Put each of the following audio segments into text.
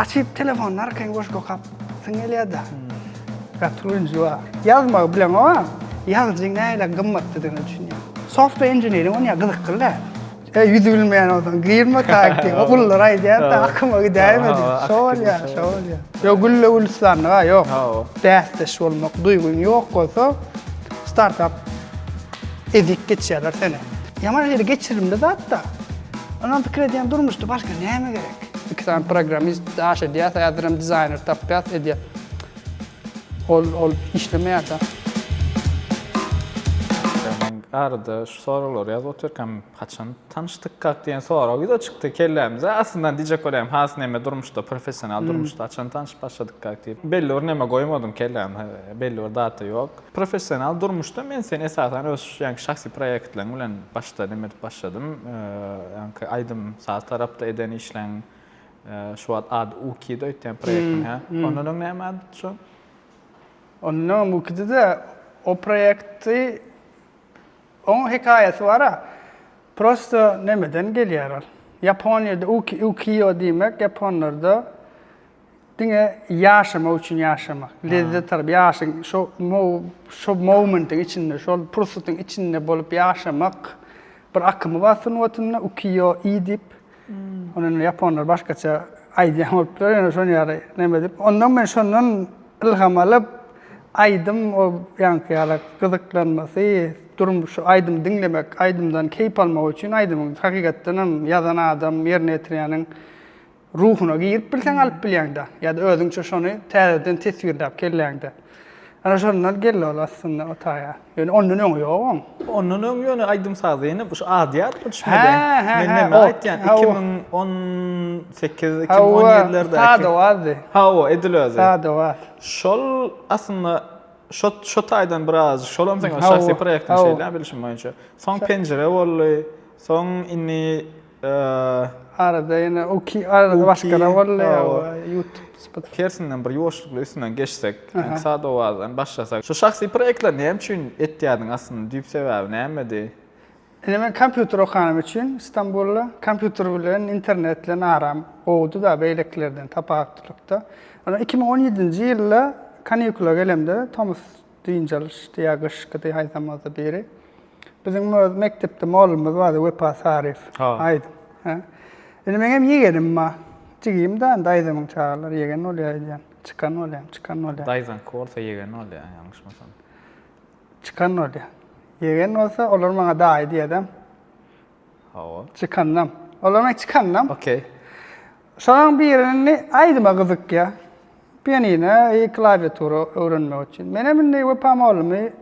Açyp telefonyny arkaýyn goşgy okap syň gelýärda. Gaty ünji bar. Ýazmagy bileň oňa. Ýazyjyň nähili gymmatlydygyny düşünýär. Software engineering onýa gyzykly däl. E ýüzi bilmeýän bolsaň girme tak diýip ogullar aýdýar da akyma gidäýme diýip. Şo bolýar, şo bolýar. Ýok gülle gülistanlyk a ýok. Bäsdeş bolmak duýgyň ýok bolsa startap ezik geçýärler seni. Ýaman ýeri geçirimli zat da. Onam pikir edýän durmuşda başga näme gerek. Iki sany programmist daş edýäs, häzirem dizaýner tapýas, edýäs. Ol ol işlemeýär da. Men arada şu soraglary ýazyp otyrkam, haçan tanyşdykkak diýen sorag ýüze çykdy kellämize. Aslyndan diýjek bolýarym, has näme durmuşda, professional durmuşda haçan tanyşyp başladykkak diýip. Belli bir näme goýmadym kelläme, belli bir data ýok. Professional durmuşda men seni esasan öz ýaňky şahsy proýektleriň bilen başda neme edip başladym. Ýaňky aýdym saz tarapda eden işleň şu wagt ady Uki de öýtýän proýektiň hä? Ondan öň näme ady şu? Ondan öň Ukide de o proýekti oň hekaýasy bar-a. Prosta nemeden gelýär ol. Ýaponiýada Uki, Ukiýo diýmek ýaponlarda Diňe ýaşamak üçin ýaşamak, lezzet alyp, ýaşyň şo şo momentiň içinde, şol pursatyň içinde bolup ýaşamak bir akymy bar sungatynda ukiýo i diýip. Ony indi ýaponlar başgaça aýdýan bolupdyr, ýöne şony ýaly neme edip, ondan men şondan ylham alyp, aýdym o ýaňky ýaly gyzyklanmasy, durmuş şu aýdym diňlemek, aýdymdan keýp almak üçin aýdymyň hakykatdan hem ýazan adam, ýerine ýetirýäniň Ruhuna girip bilseň alyp bilýäňdä. Ýa-da özüňçe şony täzeden teswirläp kelläňde. Ana şondan geldi ol aslynda o taýa. Ýöne ondan öňi ýok oň. Ondan öň ýöne aýdym sazy ýene bu şu adýarmy düşmeden. Hä, hä, hä, o. Aýtýan 2018, 2017-lerdäki. Hawa, sada wazdy. Hawa, edil özi. Sada waz. Şol aslynda şo şo taýdan biraz şolam seň şahsy proýektiň şeýle bilşim boýunça. Soň penjire boldy. Soň indi Arada ýene uki arada başgada boldy youtube spot. Tersinden bir ýuwaşlykly üstünden geçsek, ýa-da sada owazdan başlasak. Şu şahsy proýektleri näme üçin etýärdiň aslynda düýp sebäbi nämedi? Ine men kompýuter okanym üçin Stambulda kompýuter bilen internet bilen aram gowudyda beýlekilerden tapawutlykda. Ondan iki müň on ýedinji ýylda kanikula gelemde tomus dynç alyşdy ýa gyşkydy haýsam bolsa biri. Biziň öz mekdepde mugallymymyz bardy Wepa Saryýew. Aýdym. Hä. Indi meňem ýegenim bar. Jigim da daýzamyň çagalary ýegen bolýar öýdýän. Çykan bolýan, çykan bolýan. Daýzaňky bolsa ýegen bolýar, ýalňyşmasam. Çykan bolýar. Ýegen bolsa olar maňa daýy diýýädem. Hawa. Çykandam. Olar maňa çykandam. Okey. Şolaryň birini aýdyma gyzykýar. Pianina, i klawiatura öwrenmek üçin. Menem indi Wepa mollamy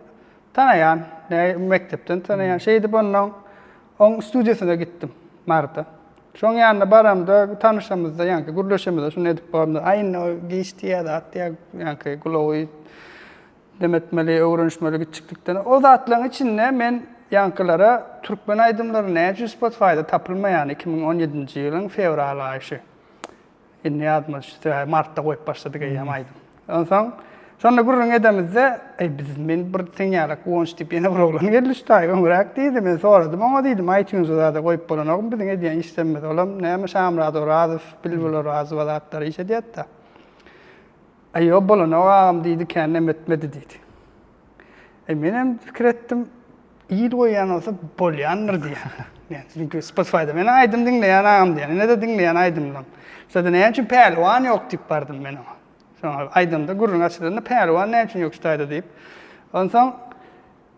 tanaýan, näi mekdepden tanaýan. Şeýdip ondan oň studiýasyna gitdim Marda. Şoň ýanyna baramda tanyşamyzda, ýaňky gürleşemizde şuny edip borumda, aý indi o giç diýýä zat diýýä, ýaňky gulagy Dem etmeli, öwrenişmeli giçjiklikden. O zatlaryň içinde men ýaňkylara türkmen aýdymlary näme üçin Spotify-da tapylmaýan iki müň on ýedinji ýylyň fewral aýy şu. Indi ýadymda düşdi, martda goýup başladyk eýýäm aýdym. Onsoň şonda gürrüň edemizde, eý biz men bir seň ýaly Guwanç diýip ýene bir oglan geldi şu taý öňräk diýdi. Men soradym oňa diýdim, iTunes-a zada goýup bolanokmy biziň edýän işlerimizi. Olam näme Şamyrat Orazow, Bilbil Orazowa zatlar iş edýärdi-de. Aýo bolanok agam diýdi kännem ötmedi diýdi. E menem pikir etdim il goýýan bolsa bolýandyr diýýän. Yani çünki Spotify'da meni aýdym diňleýän agam diýýän. Ine de diňleýän aýdymdan. Şeýle näme üçin pälwan ýok diýip bardym men oňa. Soňra aýdymda gürrüň açylanda pälwan näme üçin ýok şu taýda diýip. Onsoň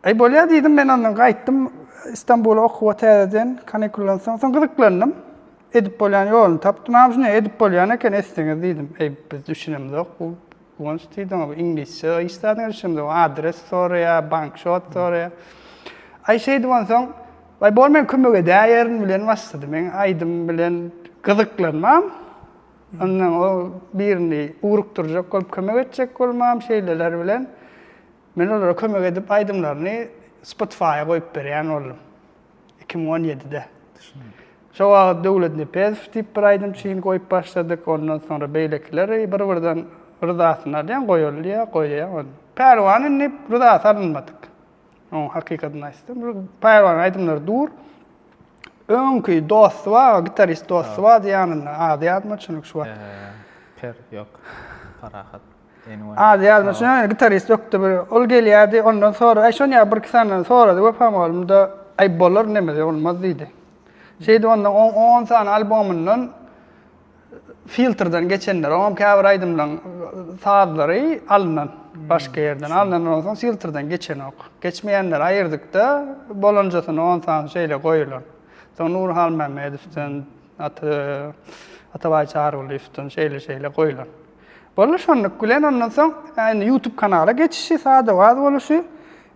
Aý bolýar diýdim, men ondan gaýtdym Istanbula okuwa täzeden, kanikuldan soň. Soň gyzyklandym. Edip bolýan ýoluny tapdym. Agam şunday edip bolýan eken etseňiz diýdim. Eý biz düşünemzok bu Guwanç diýdi oňa bu iňlisçe iş zadyna düşünemzok. Adres soraýar, bank şot soraýar. Aý şeýdip onsoň Aý bol men kömek edäýerin bilen başlady. Men aýdym bilen gyzyklanmam. Ondan o birini ugrukdyrjak bolup kömek etjek bolmam şeýleler bilen. Men olara kömek edip aýdymlaryny Spotify-a goýup berýän boldum. Iki müň on ýedide. Şo wagt Döwlet Nepezow diýip bir aýdymçyny goýup başladyk. Ondan soňra beýlekiler bir-birden ryzasyny alýan, goýalýa, goýýa. Pälwan indi ryzasy alynmadyk. Oň hakykatyny aýtsam, Pälwanyň aýdymlary dur. Öňki dosty bar, gitarist dosty bardy ýanynda, ady ýadyma çynyk şu wagt. Per ýok, Parahat. Ady ýazmaça, gitarist ökde bir. Ol gelýärdi, ondan sora, Aý, şony ýa birki sany sorady Wepa mugallym-da, Aý, bolar, nemeje bolmaz diýdi. Şeýdip, ondan oň on sany albomyndan filtrden geçenler, oňam käbir aýdymlaryň sazlary alnan, başga ýerden alnan, ondan soň filtrden geçenok. Geçmeýänleri aýyrdyk-da, bolanjasyny on sany şeýle goýulan. Soň Nury Halmämmedowdan, Atabaý Çarygulyýewden şeýle-şeýle goýulan. Boldy şonluk bilen ondan soň indi ýutub kanala geçişi sada waz boluşy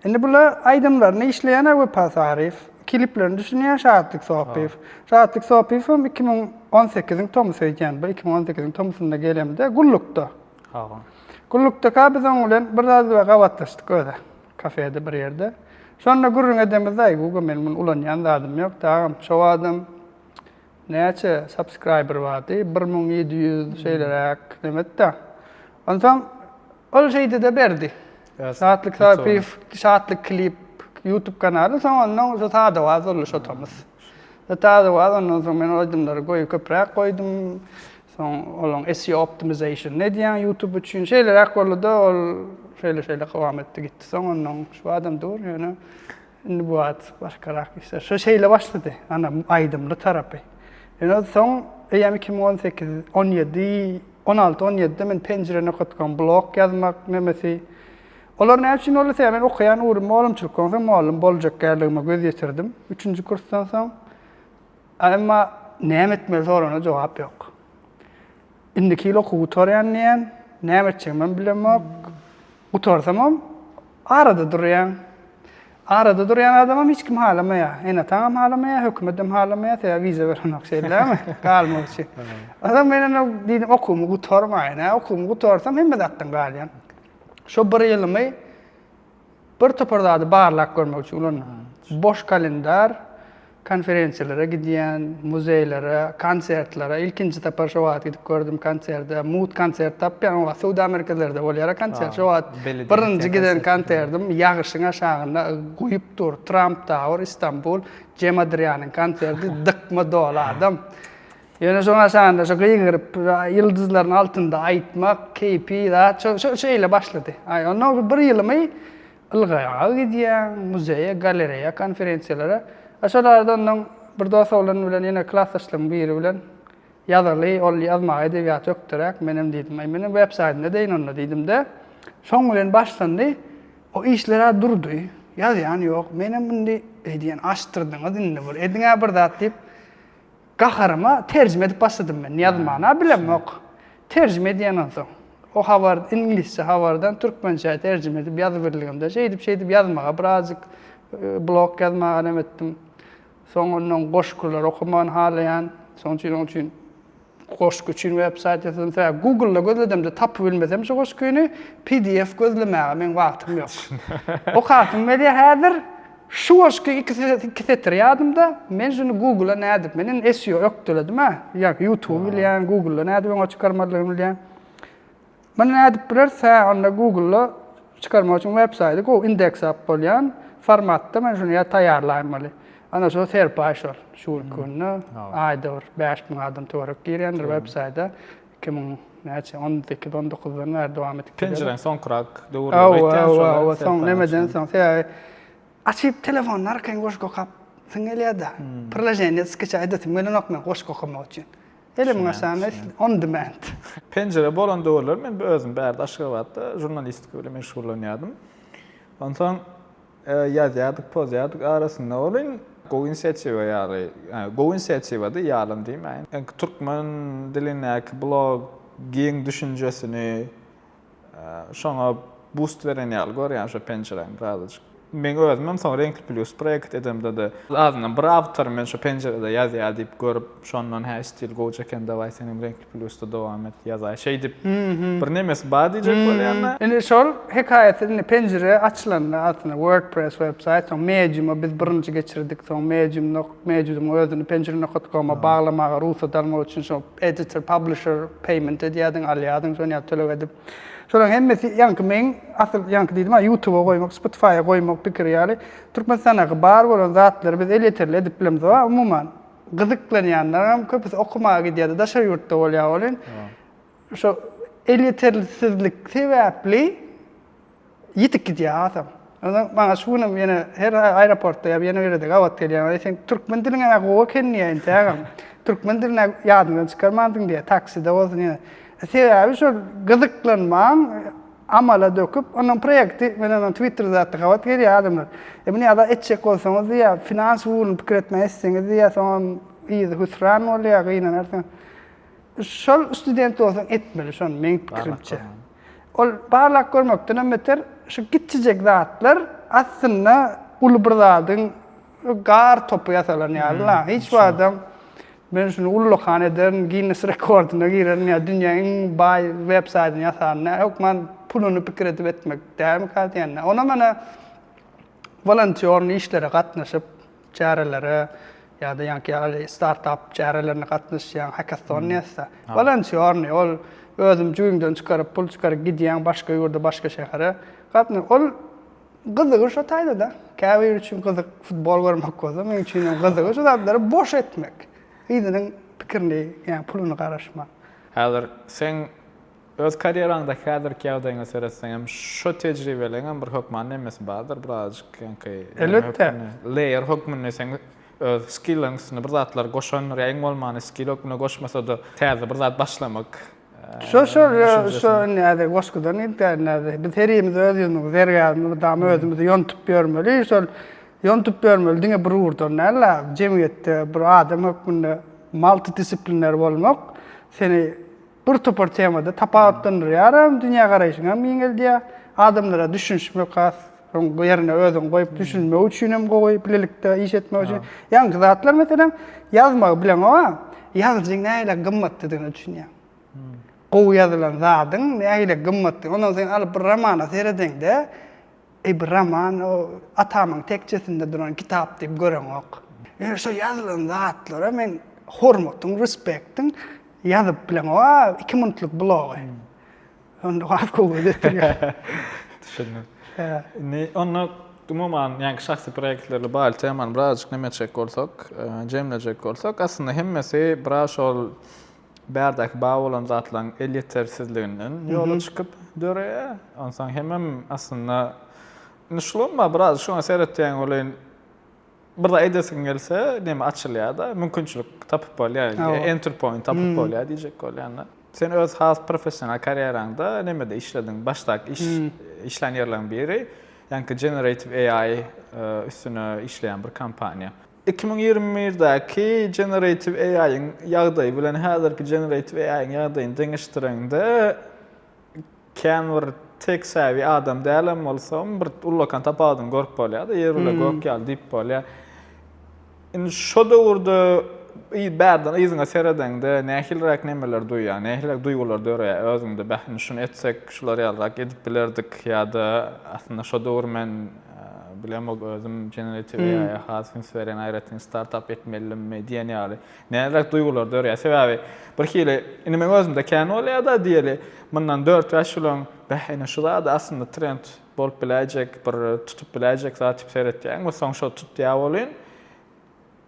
indi bula aýdymlaryny işleýän Wepa Saryýew kiliplerini düşünýän Şatlyk Sopyýew Şatlyk Sopyýewem iki müň on sekiziň tomusy öýdýän bir iki müň on sekiziň tomusynda gelemde gullukda gullukdaka biz oň bilen bir zat bilen gabatlaşdyk özi kafede bir ýerde şonda gürrüň edemizde aý Guga meniň muny ulanýan zadym ýok dagam şo wagtam Näçe subscriber bardy bir müň ýedi ýüz şeýleräk nemetde onsoň ol şeýdide berdi Şatlyk Sapyýew Şatlyk klip ýutub kanaly soň onnoň şu sadawaz boldy şo tomus şo sadawaz onnoň soň men ol aýdymlary goýy köpräk goýdum soň olaň SEO optimization nedýän ýutub üçin şeýleräk boldy-da ol şeýle şeýle kowam etdi gitdi soň onnoň şu adam dur ýöne Indi bu at başgarak işler. Şu şeýle başlady. Ana aýdymly tarapy. Ýöne soň eýýäm iki müň on sekiz, on ýedi, on alty, on ýedide men penjire nokatkom blog ýazmak nemesi. Olar näme üçin boldy? Sebäbi men okaýan ugrum mugallymçylyk. Onsoň mugallym boljak kärligime göz ýetirdim. Üçünji kursdan soň. Emma näme etmeli sorana jogap ýok. Indiki ýyl okuw gutarýan diýýän. Näme etjegimem bilemok. Gutarsamam, arada durýaň. Arada durýan adamam hiç kim halamaýar. Ene-ataňam halamaýar, hökümetem halamaýar, sebäbi wiza berenok, şeýdämi? Galmak üçin. Onsoň men indi diýdim, okuwymy gutarmaýyn-a, okuwymy gutarsam hemme zatdan galýan. Şo bir ýylymy bir topar zady barlap görmek üçin ulandyk. Boş kalendar, Konferensiýalara gidýän, muzeýlere, konsertlere. Ilkinji sapar şo wagt gidip gördüm konserde. Mugt konsert tapýan, o wagt söwda merkezlerde bolýara konsert. Şo wagt birinji giden konsertim ýagyşyň aşagynda guýup dur. Trump Tower, Istanbul, Cem Adrianyň konserti, dykma doly adam. Ýöne şoň aşagynda şo gygyryp, ýyldyzlaryň altynda aýtmak, keýpi zat şo şeýle başlady. Aý, ondan bir ýylymy Ylgaýaga gidýäň, muzeýe, galereýa, konferensiýalara. A şol arada onnoň bir dos oglan bilen ýene klasdaşlaryň biri bilen ýazyly, ol ýazmaga edebiýaty ökderäk, menem diýdim, Aý, meniň websaýtym edeýin onda diýdim-de. Şoň bilen başlandy. O işler-ä durdy. Ýazýan ýok. Menem indi, eý diýen, açdyrdyňyz indi bir, ediň-ä bir zat diýip, Gaharyma terjime edip başladym men. Ýazym mana bilemok. Terjime edýän onsoň. O habar, iňlisçe habardan türkmençä terjime edip ýazyberligimde şeýdip-şeýdip ýazmaga birazjyk blog ýazmaga alem etdim. Soň ondan goşgulary okamagyny halaýan. Şonuň üçin onuň üçin goşgy üçin websaýt ýasadym. Sebäbi Google-da gözledimde tapybilmesem şu goşgyny, pdf gözlemäge meň wagtym ýok. Okasym gelýär häzir. Şu goşgy iki setir ýadymda, men şuny Google-a nädip, men indi SEO ökdeledimä, ýa YouTube bilýän, Google-a nädip öňe çykarmalygyny bilýän. Muny nädip bileris, hä, onda Google-a çykarmak üçin websaýty gowy indeks alyp bolýan formatda men şuny ýa taýýarlaýmaly. Ana şol serpaý şol, şu günki günde aýda bir bäş müň adam töwerek girýändir websaýta. Iki müň näçe, on sekiz, on dokuzdan bäri dowam edip gelýär. Penjireň soňkurak döwürleri aýtýan şolar. Hawa, soň nemeden soň, sebäbi açyp telefonyň arkaýyn goşgy okap syň gelýär-de. Priloženiýa skça edesem gelenok men goşgy okamak üçin. Elimiň aşagyna on demand. Penjire bolan döwürler men özüm bärde Aşgabatda žurnalistika bilen meşgullanýardym. Onsoň. Ýazýardyk, pozýardyk arasynda welin, gowy inisiatiwa ýaly, gowy inisiatiwady, ýalym diýmäýin. Ilki türkmen dilindäki blog giň düşünjesini şoňa bust beren ýaly görýän şo penjiräni birazajyk. Meň özümem soň Renkli Plýus proýekt edemde-de, azyndan bir awtor men şo penjirede ýazýar diýip görüp, Şondan hä stil gowja eken daway senem reňkli plýusda dowam et ýazaý şeýdip bir nemesi bar diýjek bolýanda. Indi şol hekaýat indi penjire açylanda aslynda wordpress websaýt soň mediuma biz birinji geçirdik soň medium nok mediudyň özüni penjire nokat koma baglamaga rugsat almak üçin şo editor publisher payment edýärdiň alýardyň şony ýa töleg edip şolaryň hemmesi ýaňky meň asyl ýaňky diýdimä ýutuba goýmak spotifaýa goýmak pikiri ýaly türkmenistanda bar bolan zatlary biz elýeterli edip bilemizok a umuman. gyzyklanýanlaram köpüsi okamaga gidýärdi, daşary ýurtda bolýar welin, şo elýetersizlik sebäpli ýitip gidýär hasam. Onda maňa şu günem ýene her aeroportda ýa ýene ýerde gabat gelýär. Aý sen türkmen diliň hem gowy eken diýýär entägem. Türkmen dilini ýadyňdan çykarmandyň diýýär, takside bolsun ýene. Sebäbi şol gyzyklanmaň amala döküp onuň proýekti mena men twitterde zatda gabat gelýär adamlar e muny ada etjek bolsaňyz diýýär finans ugruny pikir etmän etseňiz diýýär soňam yzy hüsran bolýar gynanarsyň şol student bolsaň etmeli şony meň pikirimçe ol barlak görmekdenem beter şu kiçijek zatlar aslynda uly bir zadyň Gar topy ýasalan ýaly la. Hiç wagtam men şuny ullakan ederin, Ginnes rekordyna girerin ýa dünýä iň baý web saýdyny ýasaryny. Hökman puluny pikir edip etmek dälmika diýende. Onam mana wolontýorny işlere gatnaşyp, çärelere ýa-da ýaňky ýaly startap çärelerine gatnaşýaň, hekaston nätse. Wolontýorny ol özüň jübiňden çykaryp, pul çykaryp gidýäň başga ýurda, başga şähere. Ol Gyzygy şo taýda-da. Käbir üçin gyzyk futbol görmek bolsa, meň üçin hem gyzygy şu zatlary boş etmek. Yzynyň pikirini, ýa puluny garaşma. Häzir seň öz karýeraňdaky häzirki ýagdaýyňa seretseňem, şo tejribeleňem bir hökman nemesi bardyr, birazajyk ýaňky Elbetde. Layer hökmünde seň öz skilliň üstüne bir zatlar goşandyr, ýa iň bolmany skil hökmünde goşmasa-da täze bir zat başlamak Şo şo şo näde goşgudan gidýär näde. Biz her ýerimiz öz ýüzümizi, zergärimizi mydama özümizi ýontup ýörmeli. Şol ýontup ýörmeli diňe bir ugurdan däl, jemgyýetde bir adam hökmünde multidisiplinär bolmak seni bir topar temada tapawutlandyrýar hem, dünýägaraýşyňy hem giňeldýär, adamlara düşünişmek has Soň bu ýerine özüň goýup düşünmek üçin hem gowy, bilelikde iş etmek üçin. Ýaňky zatlar meselem ýazmagy bileňow, ýazyjyň nähili gymmatlydygyny düşünýäň. Gowy ýazylan zadyň nähili gymmatly. Ondan sen alyp bir romana seredeňde, eý bir roman o atamyň tekjesinde duran kitap diýip göreňok. Ýöne şol ýazylan zatlara men hormatym, respektim ýazyp bileňow iki minutlyk blogy. Onda has gowy özetdirýär. Düşündim. Indi onda umuman, ýaňky şahsy proýektlerle bagly temany birazajyk näme etjek bolsak, jemlejek bolsak, aslynda hemmesi biraz şol bärdäki bar bolan zatlaryň elýetersizliginden ýola çykyp döreýär. Onsoň hemem aslynda indi şulam bar, biraz şoňa seretýän welin, Bir zat edesiň gelse, neme açylýar-da, mümkinçilik tapyp bolýar, entry point tapyp bolýar diýjek bolýan-da. Sen öz has professional karýeraňda nemede işlediň? Başdaky iş, işlän ýerleriň biri, ýaňky Generative AI üstüne işleýän bir kompaniýa. Iki müň ýigrimi birdäki Generative AI-yň ýagdaýy bilen häzirki Generative AI-yň ýagdaýyny deňeşdireňde, Kän bir tek säwi adam dälem bolsam, bir ullakan tapawudyny görüp bolýar-da, ýer bile gök ýaly diýip bolýar. Indi şo döwürde bärden yzyňa seredeňde nähiliräk nemeleri duýýaň, nähiliräk duýgular döreýär özüňde, Beh, indi şuny etsek, şular ýalyrak edip bilerdik ýa-da aslynda şo döwür men bilemok özüm generative AI-a has üns berýän, aýratyn startap etmelidimmi diýen ýaly. Näzak duýgular dörýär. Sebäbi bir hili indi meň özümde kän bolýar-da diýeli, mundan dört-bäş ýyl öň, Bäh, ine şu zat-a aslynda trend bolup biläýjek, bir tutup biläýjek zat diýip seretýäň we soň şo tutýar welin,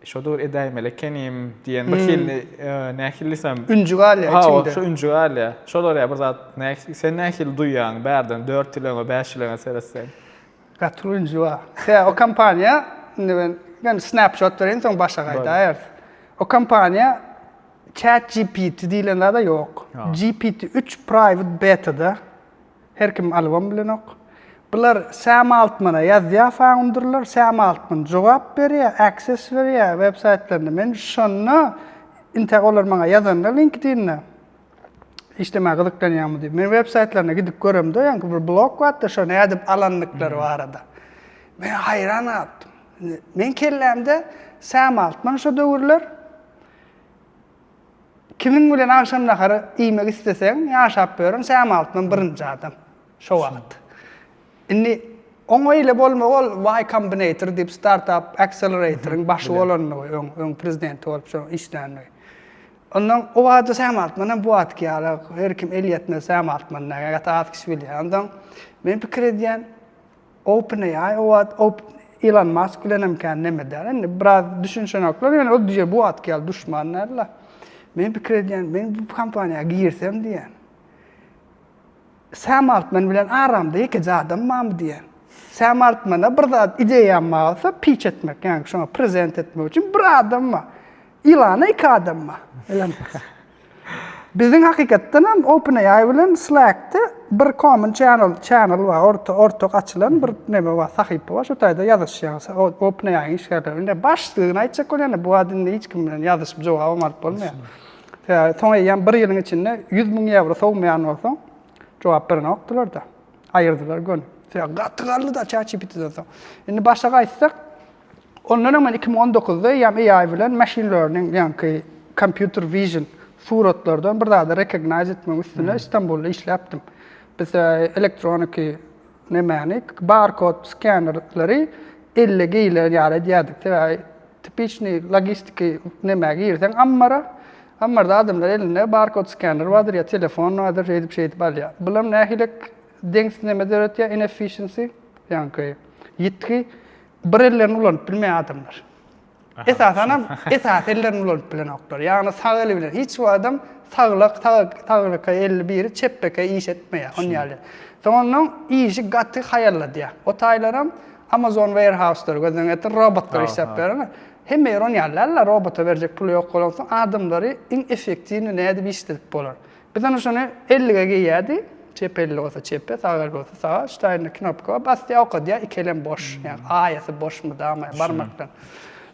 Şo döwür edäýmeli ekenim diýen bir hili nähili diýsem. Ünji galýar içiňde. Hawa, şo ünji galýar. Şolar ýa bir zat, sen nähili duýýaň bärden dört ýyl öňe, bäş ýyl öňe seretseň? Gaty rünji bar. Sebäbi o kompaniýa, indi men ýöne snapshot bereýin, soň başa gaýdarys. O kompaniýa ChatGPT diýlen zada ýok. GPT-3 private beta-da. Her kim alybam bilenok. Bular Sam Altmana ýazýar founderler, Sam Altman jogap berýär, access berýär websaýtlaryna. Men şonda, inte olar maňa ýazanda LinkedIn-de, işlemäge gyzyklanýarmy diýip. Men web saýtlaryna gidip göremde, ýaňky bir blog bardy, şo nädip alandyklary barada. Men haýran galpdym. Men kellämde Sam Altman şo döwürler kimiň bilen agşam nahary iýmek isleseň, ýaşap ýören Sam Altman birinji adam şo wagt. Indi oň eýle bolmagy ol Y Combinator diýip startup accelerator-yň başy bolandygy, öň prezidenti bolup şoň işlänligi. Ondan o wada säm artman hem bu atki ýaly, her kim el ýetmez säm artman näge gaty az kişi bilýär. Ondan men pikir edýän, OpenAI o wad Elon Musk bilen hem kän neme däl. Indi biraz düşünşenoklar, ýöne ol düýe bu atki ýaly duşman nädila. Men pikir edýän, men bu kompaniýa girsem diýýän. Sam Altman bilen aramda ýekeje adam barmy diýýän. Sam Altmana bir zat ideýam barsa, pitch etmek, ýagny şoňa prezent etmek üçin bir adam bar. Ilana iki adam bar. Elon Musk. Biziň hakykatdan hem OpenAI bilen Slack-de bir common channel, channel bar, orta, ortak açylan bir neme bar, sahypa bar, şo taýda ýazyşýarys. OpenAI-iň işgärleri bilen. Indi başlygyny aýtjak bolýan-da, bu wagt indi hiç kim bilen ýazyşyp jogabam alyp bolmaýar. Soň eýýäm bir ýylyň içinde ýüz müň ýewro sowmaýan bolsaň, jogap berenokdylar-da. Aýyrdylar göni. Sebäbi gaty galdy-da ChatGPT-den soň. Indi başa gaýtsak, ondan öň men iki müň on dokuzda eýýäm AI bilen machine learning, ýaňky computer vision suratlardan bir zady recognize etmegiň üstüne Stambulda işläpdim. Biz elektroniki Nämäni? Barkod skenerleri elle geýilen ýaly edýärdik. Sebäbi tipiçniý logistiki nämä girseň ammara, ammarda adamlar elinde barkod skener bardyr ýa telefon bardyr, şeýdip-şeýdip alýar. Bulam nähilek deňsiz neme döretýär, inefficiency, ýaňky ýitgi, bir ellerini ulanyp bilmeýär adamlar. Esasan hem esasy ellerini ulanyp bilenoklar. Ýagny sag eli bilen hiç bir adam saglyk, saglyka elli biri çep beke iş etmeýär, şon ýaly. Soň ondan işi gaty haýalladýar. O taýlar hem Amazon warehouse-lary gözden geçir, robotlar işläp bereni. Hemme ýer on ýaly däl-le, robota berjek puly ýok bolansoň, adamlary iň effektiwny nädip işledip bolar? Biz ony şony ellige geýýärdi. Çep elli bolsa çepe, sag elli bolsa saga, ştaýnda knopka basýar, okadýar, iki elem boş. Ýagny aýasy boş mydama barmakdan.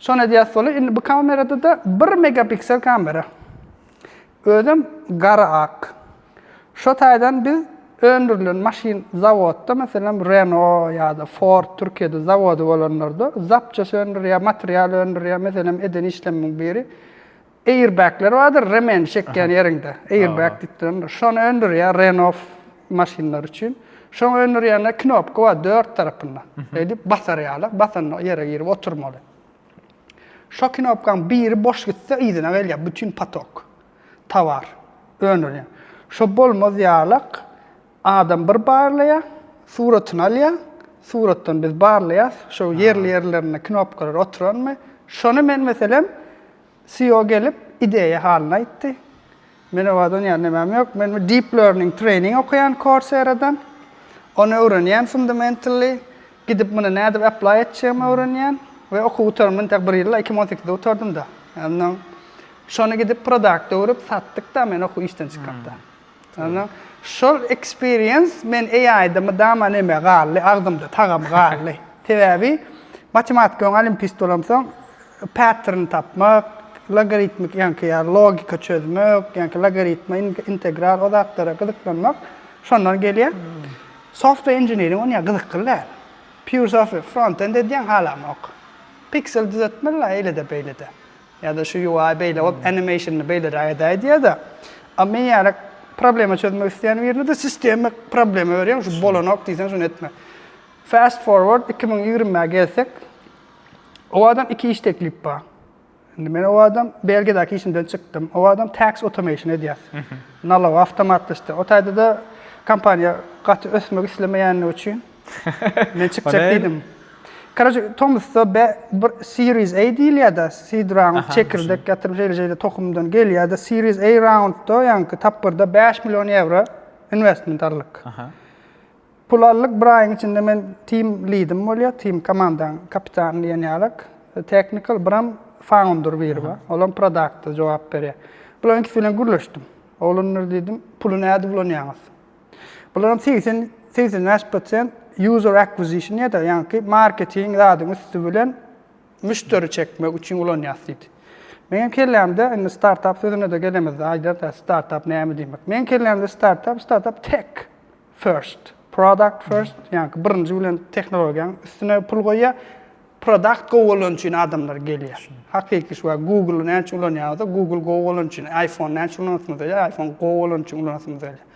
Şony edýär soly. Indi bu kamerada-da bir megapiksel kamera. Özem gara ak. Şo taýdan biz öndürilen maşyn zawodda, meselem, Renault ýa-da Ford Türkiýede zawody bolanlarda zapças öndürýär, material öndürýär. Meselem, eden işlemiň biri Airbagler bardyr, remeni çekýän ýeriňde, airbag diýip durandyr. Şony öndürýär Renault maşynlary üçin. Şoňa öndürýände knopka bar dört tarapynda. Eýdip basar ýaly, basanda ýere girip oturmaly. Şo knopkaň biri boş gitse, yzyna gelýär bütin patok, towar öndürýän. Şo bolmaz ýalak, adam bir barlaýar, suratyny alýar, suratdan biz barlaýas, şo ýerli-ýerlerinde knopkalar oturanmy, şony men meselem, CEO gelip, ideýa halyny aýtdy. Men owadan ýaly nämem ýok. Men bir deep learning trening okaýan Coursera-dan. Ony öwrenýän fundamentally. Gidip muny nädip apply etjegimi öwrenýän. We okuw gutaryp men tek bir ýylda, iki müň on sekizde gutardym-da. Ondan şony gidip product öwrüp satdyk-da men okuw işden çykgapda. Ana, şol experience men AI-da mydama neme galdy, agzymda tagam galdy. Sebäbi matematika öň olimpist bolamsoň, pattern tapmak, logaritmik ýaňky ýa logika çözmek, ýaňky logaritma, integral o zatlara gyzyklanmak şondan gelýär. Software engineering onýa gyzykly däl. Pure software, front-end edýäň halamok. Piksel düzetmeli-la eýle-de beýle-de. Ýa-da şu UI beýle bolup, animationny beýleräk edäý diýýär-de. A men ýaly problema çözmek isleýän birine-de sistema problema berýär, şu bolanok diýseň şuny etme. Fast forward iki müň ýigrimi gelsek, owadam iki iş teklip bar. Indi men owadam Belgiýadäki işimden çykdym. Owadam tax automation edýär. Nalog awtomatlaşdyr. O taýda-da kompaniýa gaty ösmek islemeýänligi üçin Men çykjak diýdim. Karaje tomusda be bir series A diýilýärde, seed round çekirdek ýatyrym şeýle şeýle tohumdan gelýärde series A roundda ýaňky tapgyrda bäş million ýewro investment aldyk. Pul aldyk bir aýyň içinde men team leadim bolýar, team komandaň kapitany diýen ýalak, technical biram founder biri bar, olam product jogap berýär. Bularyň ikisi bilen gürleşdim. Oglanlar diýdim, puly näde ulanýaňyz? Bularyň segsen, segsen bäş prosent user acquisition ýa-da ýaňky marketing zadyň üsti bilen müşderi çekmek üçin ulanýas diýdi. Meň kellämde indi startup sözüne-de gelemizde aýdarys startup näme diýmek. Meň kellämde startup, startup tech first, product first, ýaňky birinji bilen tehnologiýaň üstüne pul goýýar, Product gowy bolany üçin adamlar gelýär. Hakyky şu wagt Google-y näçe ulanýarys, Google gowy bolany üçin, iPhone näçe ulanasymyz gelýär, iPhone gowy bolany üçin ulanasymyz gelýär.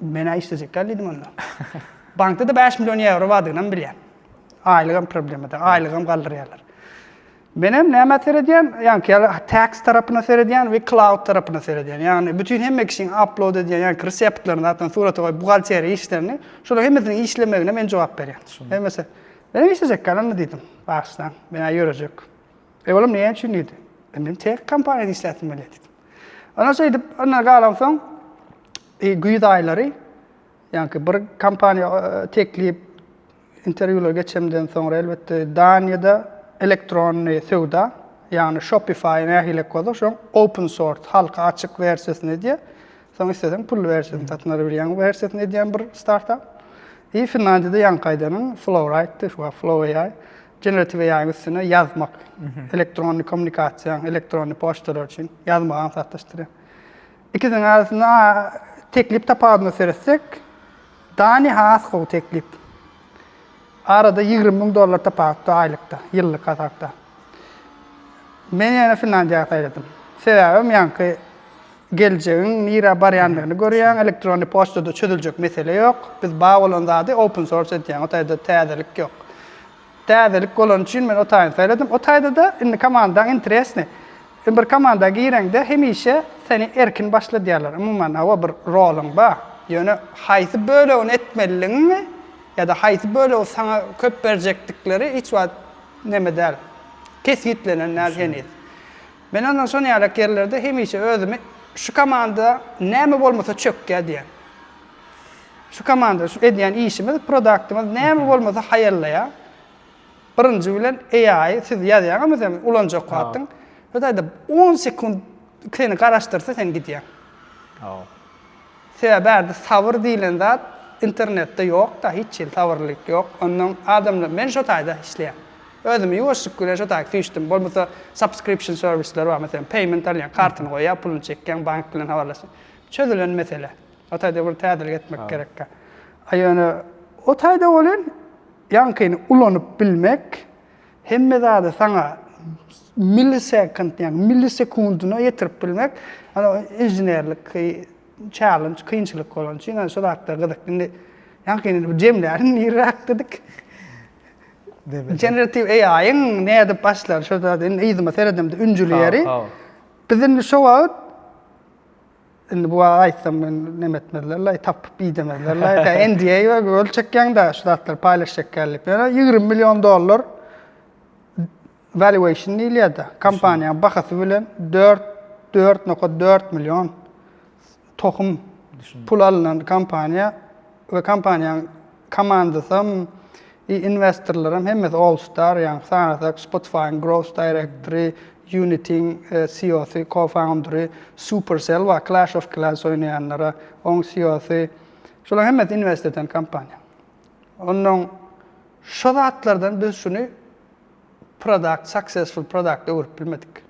Men-ä işlejek däl diýdim onda. Bankda-da bäş million ýewro bardygynam bilýän. Aýlygam problema däl, aýlygam galdyrýarlar. Menem nämä seredýän, ýaňky ýaly tags tarapyna seredýän we cloud tarapyna seredýän. Ýagny bütin hemme kişiň upload edýän ýaňky reseptlerini, zatlaryny, surata goýup buhgalteriýa işlerini, şolaryň hemmesiniň işlemegine men jogap berýän. Hemmesi. Menem işlejek gal onda diýdim. Bagşydan, men-ä ýörejek. Eý oglum näme üçin diýdi. E men tek kompaniýada işläsim gelýär diýdim. Ondan şeýdip, ondan galansoň güýz aýlary ýaňky bir kompaniýa teklip Interwýular geçemden soňra elbetde Daniýada elektronny söwda, ýagny Shopify nähili kozak şoň open source, halka açyk wersiýasyny edýär. Soň isleseň pully wersiýasyny satyn alyp bilýäň. Wersiýasyny edýän bir startap. I Finlandiýada ýaňky aýdanyň Flowrite-di, şu wagt Flow AI. Generative AI-yň üstüne ýazmak, elektronny kommunikasiýaň, elektronny poçtalar üçin ýazmagy aňsatlaşdyrýar. Ikisiniň arasynda teklip tapawudyna seretsek, Dani has gowy teklip. Arada ýigrimi müň dollar tapawutda aýlykda, ýyllyk hasapda. Men ýene Finlandiýa saýladym. Sebäbem ýaňky geljegiň nirä barýandygyny görýäň, elektronny poçtada çözüljek mesele ýok. Biz bar bolan zady open source edýäň, o taýda täzelik ýok. Täzelik bolany üçin men o taýyny saýladym. O taýda-da indi komandaň interesny. Bir komanda gireňde hemişe seni erkin başladýarlar. Umuman, hawa bir roluň bar. Ýöne haýsy bölegini etmeliligiňi ýa-da haýsy bölegi saňa köp berjekdikleri hiç wagt neme däl, kesgitlenen däl heniz. Men ondan şonuň ýaly ýerlerde hemişe özümi şu komanda näme bolmasa çökýär diýýän. Şu komanda şu edýän işimiz, produktymyz näme bolmasa haýallaýar. Birinji bilen AI siz ýazýaňyzmy sen ulanjak wagtyň. Hytaýda on sekunt seni garaşdyrsa sen gidýäň. Sebäbi bärde sabyr diýlen zat internetde ýokda hiç hili sabyrlylyk ýok. Onnoň adamlar men şo taýda işleýän. Özümi ýuwaşlyk bilen şo taýy süýşdüm. Bolmasa subscription serwisler bar meselem payment alýaň kartyny goýýar pulyny çekýäň bank bilen habarlaşýaň. Çözülen mesele. O taýda bir täzelik etmek gerekkä. A ýöne o taýda welin ýaňkyny ulanyp bilmek hemme zady saňa millisekund, ýagny millisekundyna ýetirip bilmek ýa-da inženerlik challenge, kynçylyk bolany üçin ýa-da şu zatlar gyzyk. Indi ýaňkyny bir jemlärin nirräk diýdik. Generatiw AI-yň nädip başlary şo zady indi yzyma seredemde ünjülýärin. Biz indi şo wagt Indi bu waka aýtsam men neme etmezlerlaý, tapyp idemezlerlaý. Sen NDA we göl çekýäňda şu zatlary paýlaşjakýar diýip. Ýöne 20 million dollar valuation diýilýärdi. Kompaniýanyň bahasy bilen 4 4.4 million tohum pul alnan kompaniýa we kompaniýanyň Komandasam, i inwestorlaram hemmesi All Star, ýagny sanasak Spotify-yň Growth Directory, Unity-iň CEO-sy, co-foundery, Supercell bar, Clash of Clans oýnaýanlara, oň CEO-sy. Şolaryň hemmesi inwest eden kompaniýa. Onnoň şo zatlardan biz şuny product, successful product öwrüp bilmedik.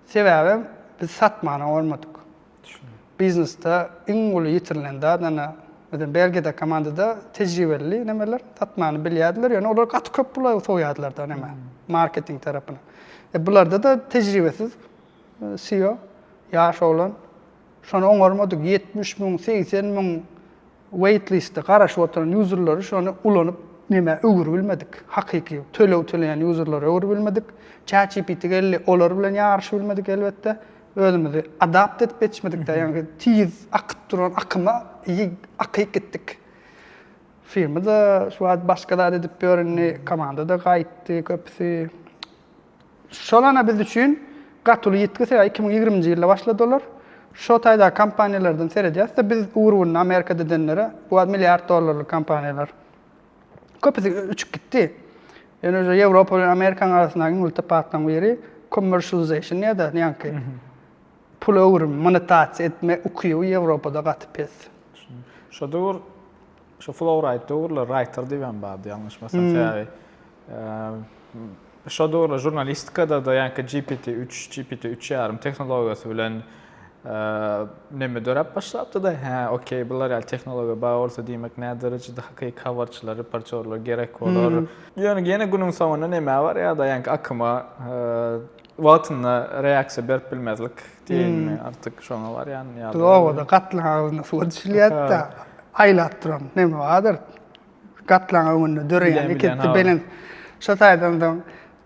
Sebäbem biz satmana bolmadyk. Biznesde iň uly ýitirilen zat ana biziň Belgiýada komandada tejribeli nemeler satmany bilýärdiler, ýöne olar gaty köp pula sowýardylar-da neme, marketing tarapyna. E bularda-da tejribesiz CEO, ýaş oglan. Şony oňarmadyk, ýetmiş müň, segsen müň Waitliste garaşyp oturan ýuzerleri şony ulanyp nämä öwürbilmedik, hakyky töleg töleýän ýuzerlere öwürbilmedik. ChatGPT geldi, olar bilen ýaryşybilmedik elbetde. Özümizi adapt edip geçmedikde ýaňky tiz akyp duran akyma ýygy akyk gitdik. Firma-da şu wagt başga zat edip ýör indi, komanda-da gaýtdy köpüsi. Solana biz üçin gaty uly ýitgi, sebäbi iki müň ýigriminji ýylda başlady olar. Şo taýdaky kompaniýalardan seredýäs-de, biz ugur-ugruna Amerikada edenlere, bu wagt milliard dollarlyk kompaniýalar. Köpüsi uçup gitdi. Ýöne uje Ýewropa bilen Amerikanyň arasyndaky iň uly tapawutlaryň biri commercialization diýýär-de, ýaňky pul öwrüm, monetasiýa etme ukyby Ýewropada gaty pes. Şo döwür Şu Flowrite döwürler writer diýip hem bardy, ýalňyşmasam. Sebäbi eee, şo döwürler žurnalistikada-da ýaňky GPT-3, GPT-3 ýarym tehnologiýasy bilen eee, neme döräp başlapdy-da, hä, okey, bular ýaly tehnologiýa bar bolsa, diýmek, näderejede hakyky habarçylar, reportýorlar gerek bolar. Ýöne ýene günüň soňunda nämä barýar-da, ýaňky akyma, eee, Wagtynda reaksiýa berip bilmezlik diýeýinmi, artyk şoňa barýan ýaly. Biz obada gatlaň agzynda suwa düşülýäris-de, aýlap duran neme bardyr, gatlaň öňünde döreýän iki-üç belent. Şo taýdan soň,